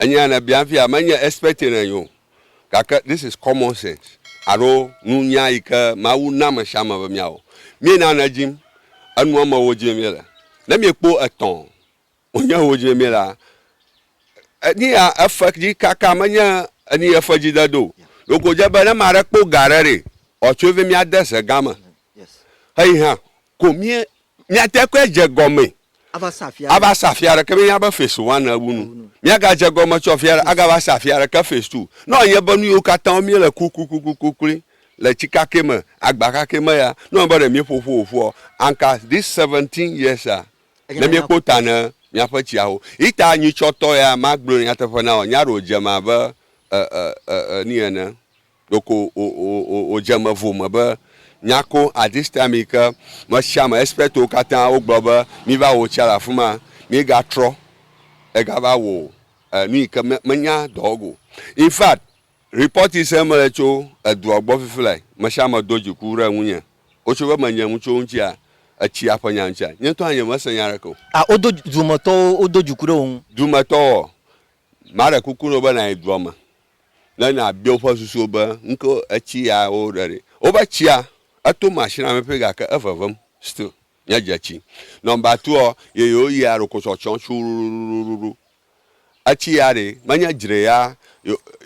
Enya ne bia fia menye expecting anye o gake this is common sense alo nunya yi ke Mawu na ame sia ame be miawɔ. Mí na ne dim enu ame wo dim mí le. Ne mí kpo etɔ wo nye wo dim mí la enu ya efe dzi kaka menye enu ye fe dzi de do. Ɖeko dze be ne ma ɖe kpo ga ɖe ɖe ɔtso vi mía de ze gã me. Xeyi hã ko mie miate koe dze gɔme ava sa afia ava sa afia ɖeke mi nya be face to one ewu nu mia ga dze gɔme tsɔ afia ɖe aga va sa afia ɖeke face to ne wɔ nye be nu yiwo katã wo mie le kukukukukukuli le tsi kake me agba kake me ya ne wɔ be ɖe mie ƒo ƒo ƒoa anka this seventeen years a ne mie kpo ta ne mia ƒe tsia ho yi ta nyitsɔ tɔ ya ma gblɔe nyateƒe na wɔ nya ɖe wo dze ma be e e e e ni ene. Ɖeko wòdze eme vo me be nyako at this time yi ke mesiame expertwo katã wogblɔ be miva wɔ tsia le afi ma, mígatrɔ egava wɔ nu yi ke menya dɔ o. In fact, report yi sem mele tso edua gbɔ fifi lae, mesiame do dziku ɖe ŋunye. Wotso be menye ŋutsu wo ŋutia, etsia ƒe nya ŋutia, nye ŋutɔ hã nyemese nya aɖeke o. A Wodo, dumetɔwo wodo dziku ɖe wò ŋu? Dumetɔwoa? Maɖe kuku na wò be nàyi dua me ne nàbia woƒe susu be, Nu ka etsi ya woɖe ɖi? Wobe tsia, eto machine la me ƒi gake evevem still nye dzetsi. Number two ɔ, yeyewo yia ɖoko tsɔtsɔm tsuɖuɖuɖuɖuɖu. Etsi ya ɖe menye dzre ya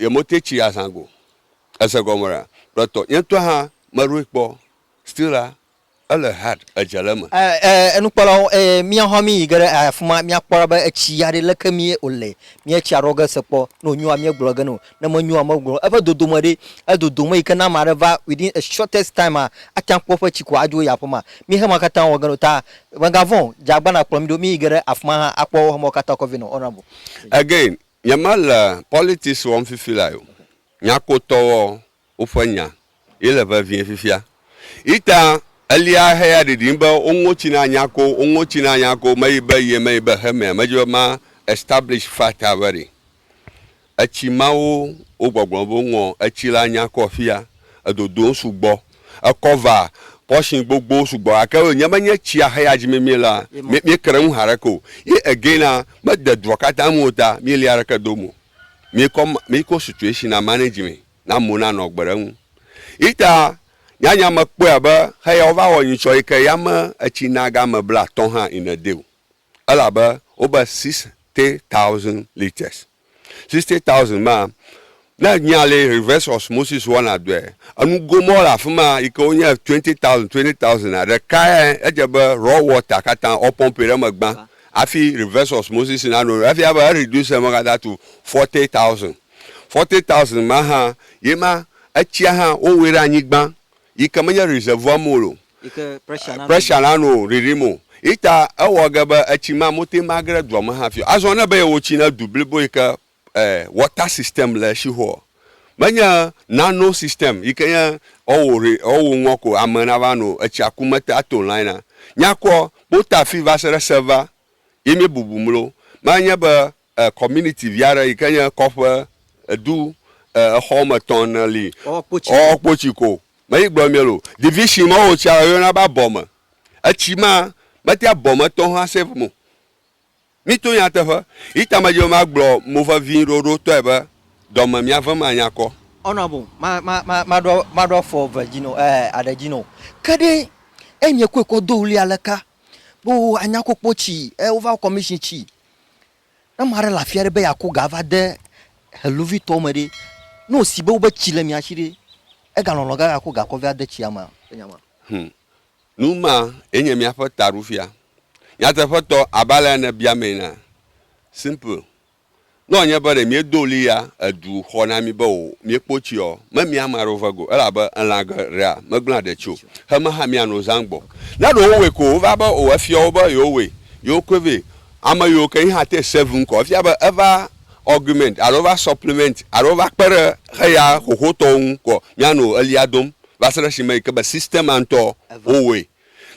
yemo te tsi ya zã go. Ese gɔme ɖa? Kpletɔ, nye ŋutɔ hã meɖoe kpɔ still la Ele hard edze le eme. E e nukpɔlawo e mia hã mi yi ge ɖe afi ma mia kpɔ be etsi ya ɖe leke mi o le mi etsia ɖɔ ge se kpɔ ne o nyoa mi gblɔ ge no ne me nyoa me gblɔ eƒe dodo me ɖe edodo me yi ke na ame aɖe va within a shortest time a ate ŋu akpɔ eƒe tsi ko adzo yi aƒe ma mi hema katã wɔ ge no ta me ga vɔ̃ o dze agba na kplɔ mi ɖo mi yi ge ɖe afi ma hã akpɔ wo hemawo katã kɔ vɛ nɔ honourable. Again nye me le politics wɔm fifi lae o nyakotɔ wɔ woƒe nya ye le vevie fifia. Ita elia heya ɖiɖim be wo ŋotsi na nya ko, wo ŋotsi na nya ko, meyi be ye, meyi be he mea, medze be ma establish fact a very. Etsi mawo wo gbɔgblɔ be wo ŋɔ etsi la nya kɔ fia, edodowo sugbɔ, e cover portion gbogbowo sugbɔ gake wo nye be nye tsia heya dzi mi mi la, mi mi kre ŋu haɖeke o. Ye again a, me de dua kata me o ta mi lia ɖeke dom o. mikɔ mikɔ situation na manage me na amewo nanɔ agbe ɖe eŋu. Yi ta nyanya mekpɔe abe heya wova wɔ nyitsɔ yi ke yame etsi na game blatɔ̃ hã in a day o. Elabe wobe sixty thousand litres. Sixty thousand ma, ne nya li reverse osmosis wɔna dɔe, enugo ma wole afi ma yi ke wonye twenty thousand, twenty thousand a, ɖekae edze be raw water katã wopɔmpi ɖe eme gbã. Hafi reverse osmosis nanɔ eme efia be e reduce eme katã to forty thousand. Forty thousand ma hã ye ma etsia hã wowɔe ɖe anyigba yi ke menye reservoir me o, pressure nanɔ o, ɖiɖim o. Ye ta ewɔ ge be etsi ma mote magre dua me hafi o. Azɔ ne be yewotsi na du blibo yi ke eh, water system le Sheol. Menye nano system yi ke nye ɔwò re, ɔwò ŋɔ ko ame nava no etsia ku mete ato line a. Nyakɔ bota fi va se ɖe seva ye mie bubu mlo. Ma nye be eh, community vi aɖe yi ke nye kɔƒe, edu, eh, exɔ wɔme etɔ̃ ene li. Ɔwɔ kpo tsi ko. Ɔwɔ kpo tsi ko. Me yi gblɔ mie lo. Division ma wò tsia yɔna be abɔme. Etsi ma metea bɔme tɔho a save mo. Mito nyateƒe. Ita me dze ma gblɔ mo vevi ɖoɖo tɔe be dɔ me mia vem anya kɔ. Ɔna bo ma ma ma ma ɖɔ ma ɖɔ fɔ ve dzi no eh aɖe dzi no. Ke ɖe eh nye koe kɔ do wuli ale ka bo anya ko kpɔ tsi eh wo va commission tsi. Ne ma ɖe le afia ɖe be ya ko ga va de heluvi tɔ me ɖe ne wo si be wo be tsi le mia tsi ɖe ega lɔlɔ ga ga ko ga kɔ va de tsia mea? Nya ma. Hum. Nu ma ye nye míaƒe taɖofia. Nyateƒetɔ, abe alea nèbia mee ene. Simple. Ne wòanye be ɖe míedo ɣli ya edu xɔ na mí be o, míekpo tsi ɔ, memia ame aɖewo ve go, elabe elã ge rea megblẽa ɖe tsi o. Heme hã míano zã gbɔ. Ne ɖe wowɔe ko wova be o efia wo be yewowɔe, yewokɔe vɛ. Ame yiwo ke yehã te save ŋkɔ efia be eva augment alo eva supplement alo eva kpe ɖe xeya xoxotɔwo ŋu kɔ míano ɣlia dom va se ɖe esime yi ke be system-a ŋutɔ wowɔe.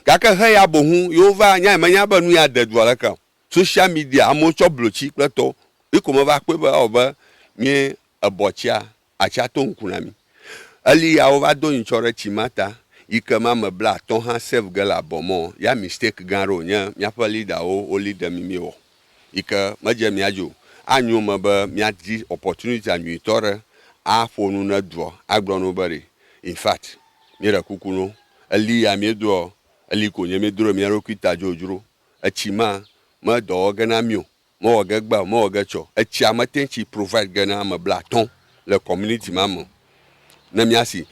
Gake heya boŋu yewova nyae, menya be nu ya de dua leke o. Social media, amewo tsɔ blotsi kple tɔwo, yi ko meva kpɔe be ewɔ be mí ebɔ tsia, atsia to ŋku na mí. Eli ya wova do nyitsɔ ɖe tsi ma ta yi ke ma me bla atɔ̃ hã save ge le abɔ mɔ ya mistake gã aɖe wonye míaƒe leader-wo wo lead mí míewɔ. yi ke medze mía dzi o. Anyo eme be míadi opportunitya nyuitɔ ɖe aƒo nu ne duɔ, agblɔ no be ɖe, in fact, míeɖe kuku no, eli ya míedoɔ, eli ko nye míedo ɖe mía ɖokui ta dzodzro. Etsi ma, medɔ wɔ ge na mí o, mewɔ ge gbea o, mewɔ ge tsɛ o. Etsia mete ŋu tsi provide ge na ame blatɔ̃ le community ma me o. ne mía si.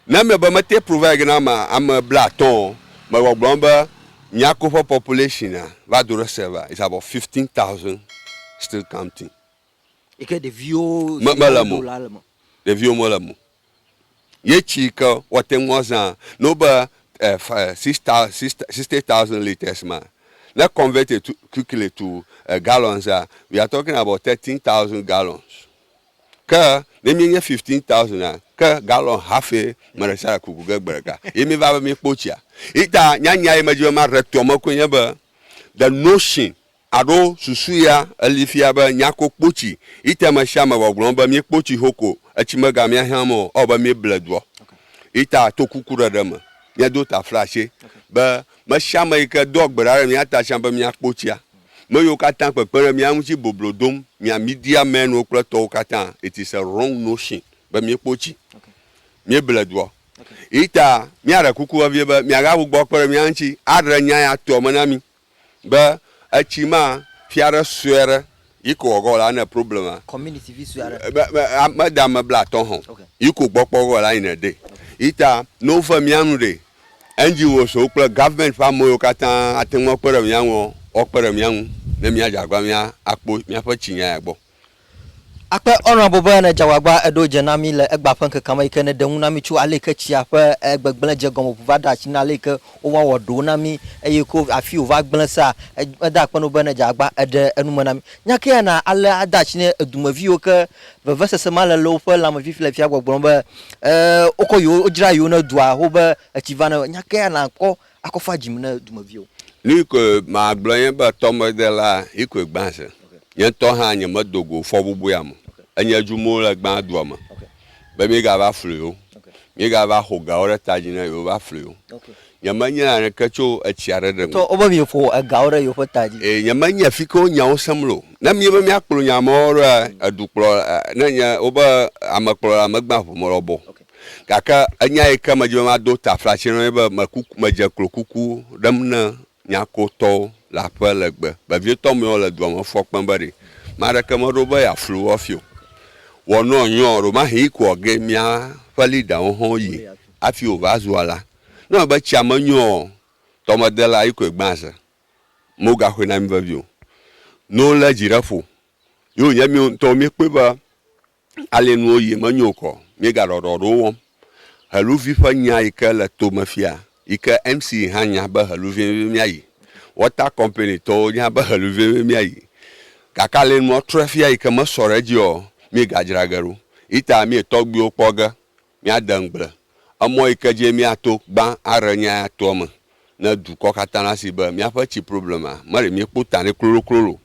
Ne eme be mete provide na ame ame blaatɔ̃ o, mewɔ gblɔm be mía koƒe population a va do ɖe se va is about fifteen thousand still counting. Yi ke ɖeviwo Me- si mele wodo mo. la le me. Ɖeviwo mele mo. Ye tsi yi ke woate ŋu azã ne wobe eh, f- eh, six thou- six- sixty thousand litres ma, ne convert it to- quickly to eh, gallons a, we are talking about thirteen thousand gallons. Ke ne míenye fifteen thousand a, ke galɔn hafi ame ɖe sia ɖe kuku ge gbe ɖeka ye míeva be míekpo tsia. Eyi ta nyanya ye medi be maɖe toa me koe nye be, the notion alo susu ya eli fia be nyako kpo tsi. Eyi ta ame sia ame gbɔgblɔm be míekpo tsi xoxo o, etsi megamẽ ahiãm o, ewɔ abe míeble doa. Eyi ta to kukuɖeɖe me, míado taflatse be me sia ame yi ke doa gbe ɖa ɖe mía ta tsã be míakpo tsia. me yiwo katã kpekpe ɖe mía ŋuti boblo dom mia Media mɛnuwo kple tɔwo katã. It is a wrong notion be míekpo tsi míeble dua o. Eyita míaɖe kuku vevie be miagagbugbɔ kpe ɖe mía ŋuti aɖe nya ya tuɔ me na mí be etsi ma fia aɖe sue aɖe yi ko wòagɔ la ne problem a Community vi sue aɖe. me, me, a, mede ame blatɔ hã o, yi ko gbɔkpɔ gɔ la yi ne ɖee. Eyita ne wove mía nu ɖee, NGOs wo kple government ƒe ame yiwo katã ate ŋu akpe ɖe mía ŋua, woakpe ɖe mía ŋu ne míadze agbagba be míakpɔ míaƒe tsinya ya gbɔ. Akpe Honourable be nèdze agbagba èɖo dze na mí le egbea ƒe ŋkekea me yi ke nèɖe ŋu na mí tso ale yi ke tsia ƒe gbegblẽ dze gɔme ŋu va ɖea tsi na ale yi ke wova wɔ ɖowo na mí eye ko afii wòva gblẽ sea. Meda akpe na wò be nèdze agbagba èɖe enu me na mí. Nya kae na ale ade atsi na edu me viwo ke Vevesese ma le le woƒe lãme fifi le fia gbɔgblɔm be, E, wokɔ yewo, wodzra yewo ne dua ho be etsi va ne nya kea nàkɔ akɔ fa dzi me ne dumeviwo. Nu koe magblɔ nye be tɔmedela Hikoe gbã se. Nye ŋutɔ hã nyemedo go fɔbubuea me. Enye dzu mɔ le gbã dua me be míegava flu yewo, míegava xo gawo ɖe ta dzi ne yewova flu yewo. Nyemenye naneke tso etsia ɖeɖe ŋu. Tsɔ woƒe vi ƒo egawo ɖe yewoƒe ta dzi. Eye nyemenye fike wo nyawo sem lo. Ne míebe míakplɔ nya mawo ɖoa, edukplɔla, ne nye, wobe amekplɔla megbea ŋu me lɔbɔ o. Gake enya yi ke medi be mado taflatse na wo nye be, mekuku, medze klo kuku ɖem na Nyakotɔwo le aƒe legbe vevietɔ mewo le dua me fɔ kpem be ɖe ame aɖeke meɖo be yeaflu wo hafi o. Wɔ nɔ nyɔ, ɖewomahi yi ko ɔ ge mía ƒe leaderwo hã wo yi hafi wova zua la. Ne eme be tsia me nyo ɔ, tɔmedela yi koe gbã ze. Mo ga xoe na mi vevi o. No le dzi ɖe ƒo yo nye mi ŋutɔ mi kpɔe be ale nuwo yi me nyo kɔ mi ga ɖɔɖɔ ɖewo wɔm. Heluvi ƒe nya yi ke le to me fia yi ke MC hã nya be heluvi mi mia yi. Water company tɔwo nya be heluvi mi mia yi. Gake ale nua trɔe fia yi ke me sɔ ɖe dzi ɔ, mi ga dzra ge ɖo. Yi ta mi tɔgbuiwo kpɔ ge Míade ŋugble, emɔ yi ke dzie míato gbã aɖe nya ya toa me ne dukɔ katã nasi be míaƒe tsi problema meɖe míekpɔ ta nɛ kloloklolo o.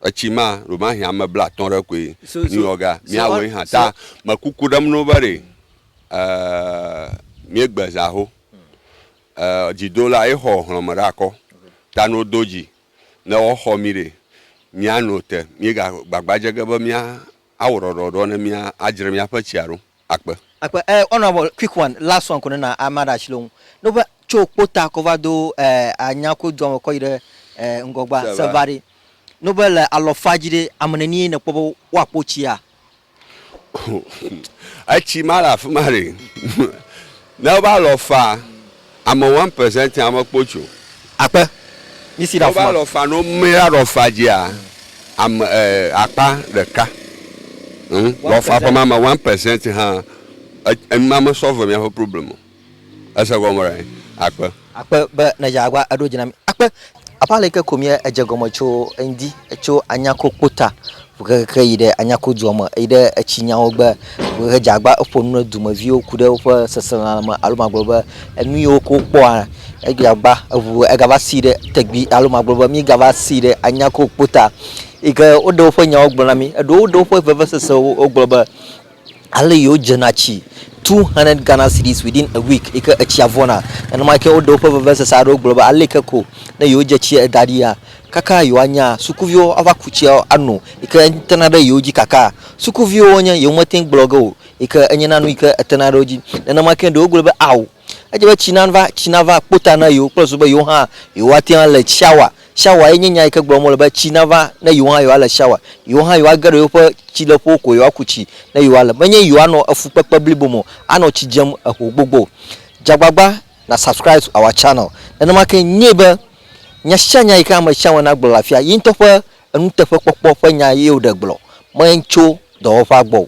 Etsi ma, ɖewomahi ame blatɔ̃ ɖe koe, New York-a, míawoe hã. Ta me kuku ɖem no be ɖe míegbe zã ho. Dzidola ye xɔ hlɔ̃me ɖe akɔ. Ta no do dzi ne woaxɔ mí ɖe, míano te. Míegagbagba dze ge be mía awɔ ɖɔɖɔɖɔ ne mía adzre míaƒe tsia ɖo. akpe. Akpe eh honorable quick one last one ko ne na ama ɖe asi le wo ŋu ne woƒe tso kpota kɔ va do eh anya ko dua me kɔ yi ɖe eh ŋgɔgba seva ɖe ne woƒe le alɔfa dzi ɖe ame neni ye ne kpɔ be woa kpo tsia. Etsi ma le afima ɖe ne woƒe alɔfa Ame one percent ya me kpo tso. Akpe. Mi si ɖe afima. Wo va lɔ fa no mi la lɔ fa dzi a? Ame akpa ɖeka. Hm lɔ fa ƒe ma me one percent hã enu ma me sɔ ve mia ƒe problem o. Ese gɔme ɖa nyi. Akpe. Akpe be ne dza agba eɖo dzi na mi. Akpe. Apa leke ko mía edze gɔme tso eŋdi etso anyako kpota hehe yi ɖe anyako dua me yi ɖe etsi nyawo gbe hehe dze agba eƒo nu ne dumeviwo ku ɖe woƒe seselelãme alo magblɔ be enu yiwo ke wokpɔa edze agba eŋu egava si ɖe tegbi alo magblɔ be mígava si ɖe anyako kpota yi ke woɖe woƒe nyawo gblɔ na mi. Eɖewo ɖe woƒe vevesesewo wogblɔ be. Ale yi wodzena tsi 200 Ghana cedis within a week yi ke etsia vɔna. Nenema ke woɖe woƒe vevesese aɖewo gblɔ be ale ke ko ne yewodze tsia eda ɖia, kaka yewoanya sukuviwo ava ku tsia ano yi ke tena ɖe yewo dzi kakaa. Sukuviwo wonye, yewomete ŋu gblɔ ge o yi ke enyena nu yi ke etena ɖe wo dzi. Nenema ke ɖewo gblɔ be ao, edze be tsi nava, tsi nava kpo ta na yewo kple susu be yewo hã yewoate ŋu ale tsia wa. Shawa ye nye nya yi ke gblɔm wole be tsi nava ne yewo hã yewoale shawa. Yewo hã yewoage ɖe yewoƒe tsileƒewo ko yewoaku tsi ne yewoale. Menye yewoanɔ efukpekpe blibo me o, anɔ tsi dzem eho gbogbo o. Dze agbagba na subscribe to our channel. Nenema ke nye be nya sia nya yi ke ame sia ame nagblɔ le afia, ye ŋutɔ ƒe enuteƒekpɔkpɔ ƒe nya ye woɖe gblɔ, me tso dɔwɔƒea gbɔ o.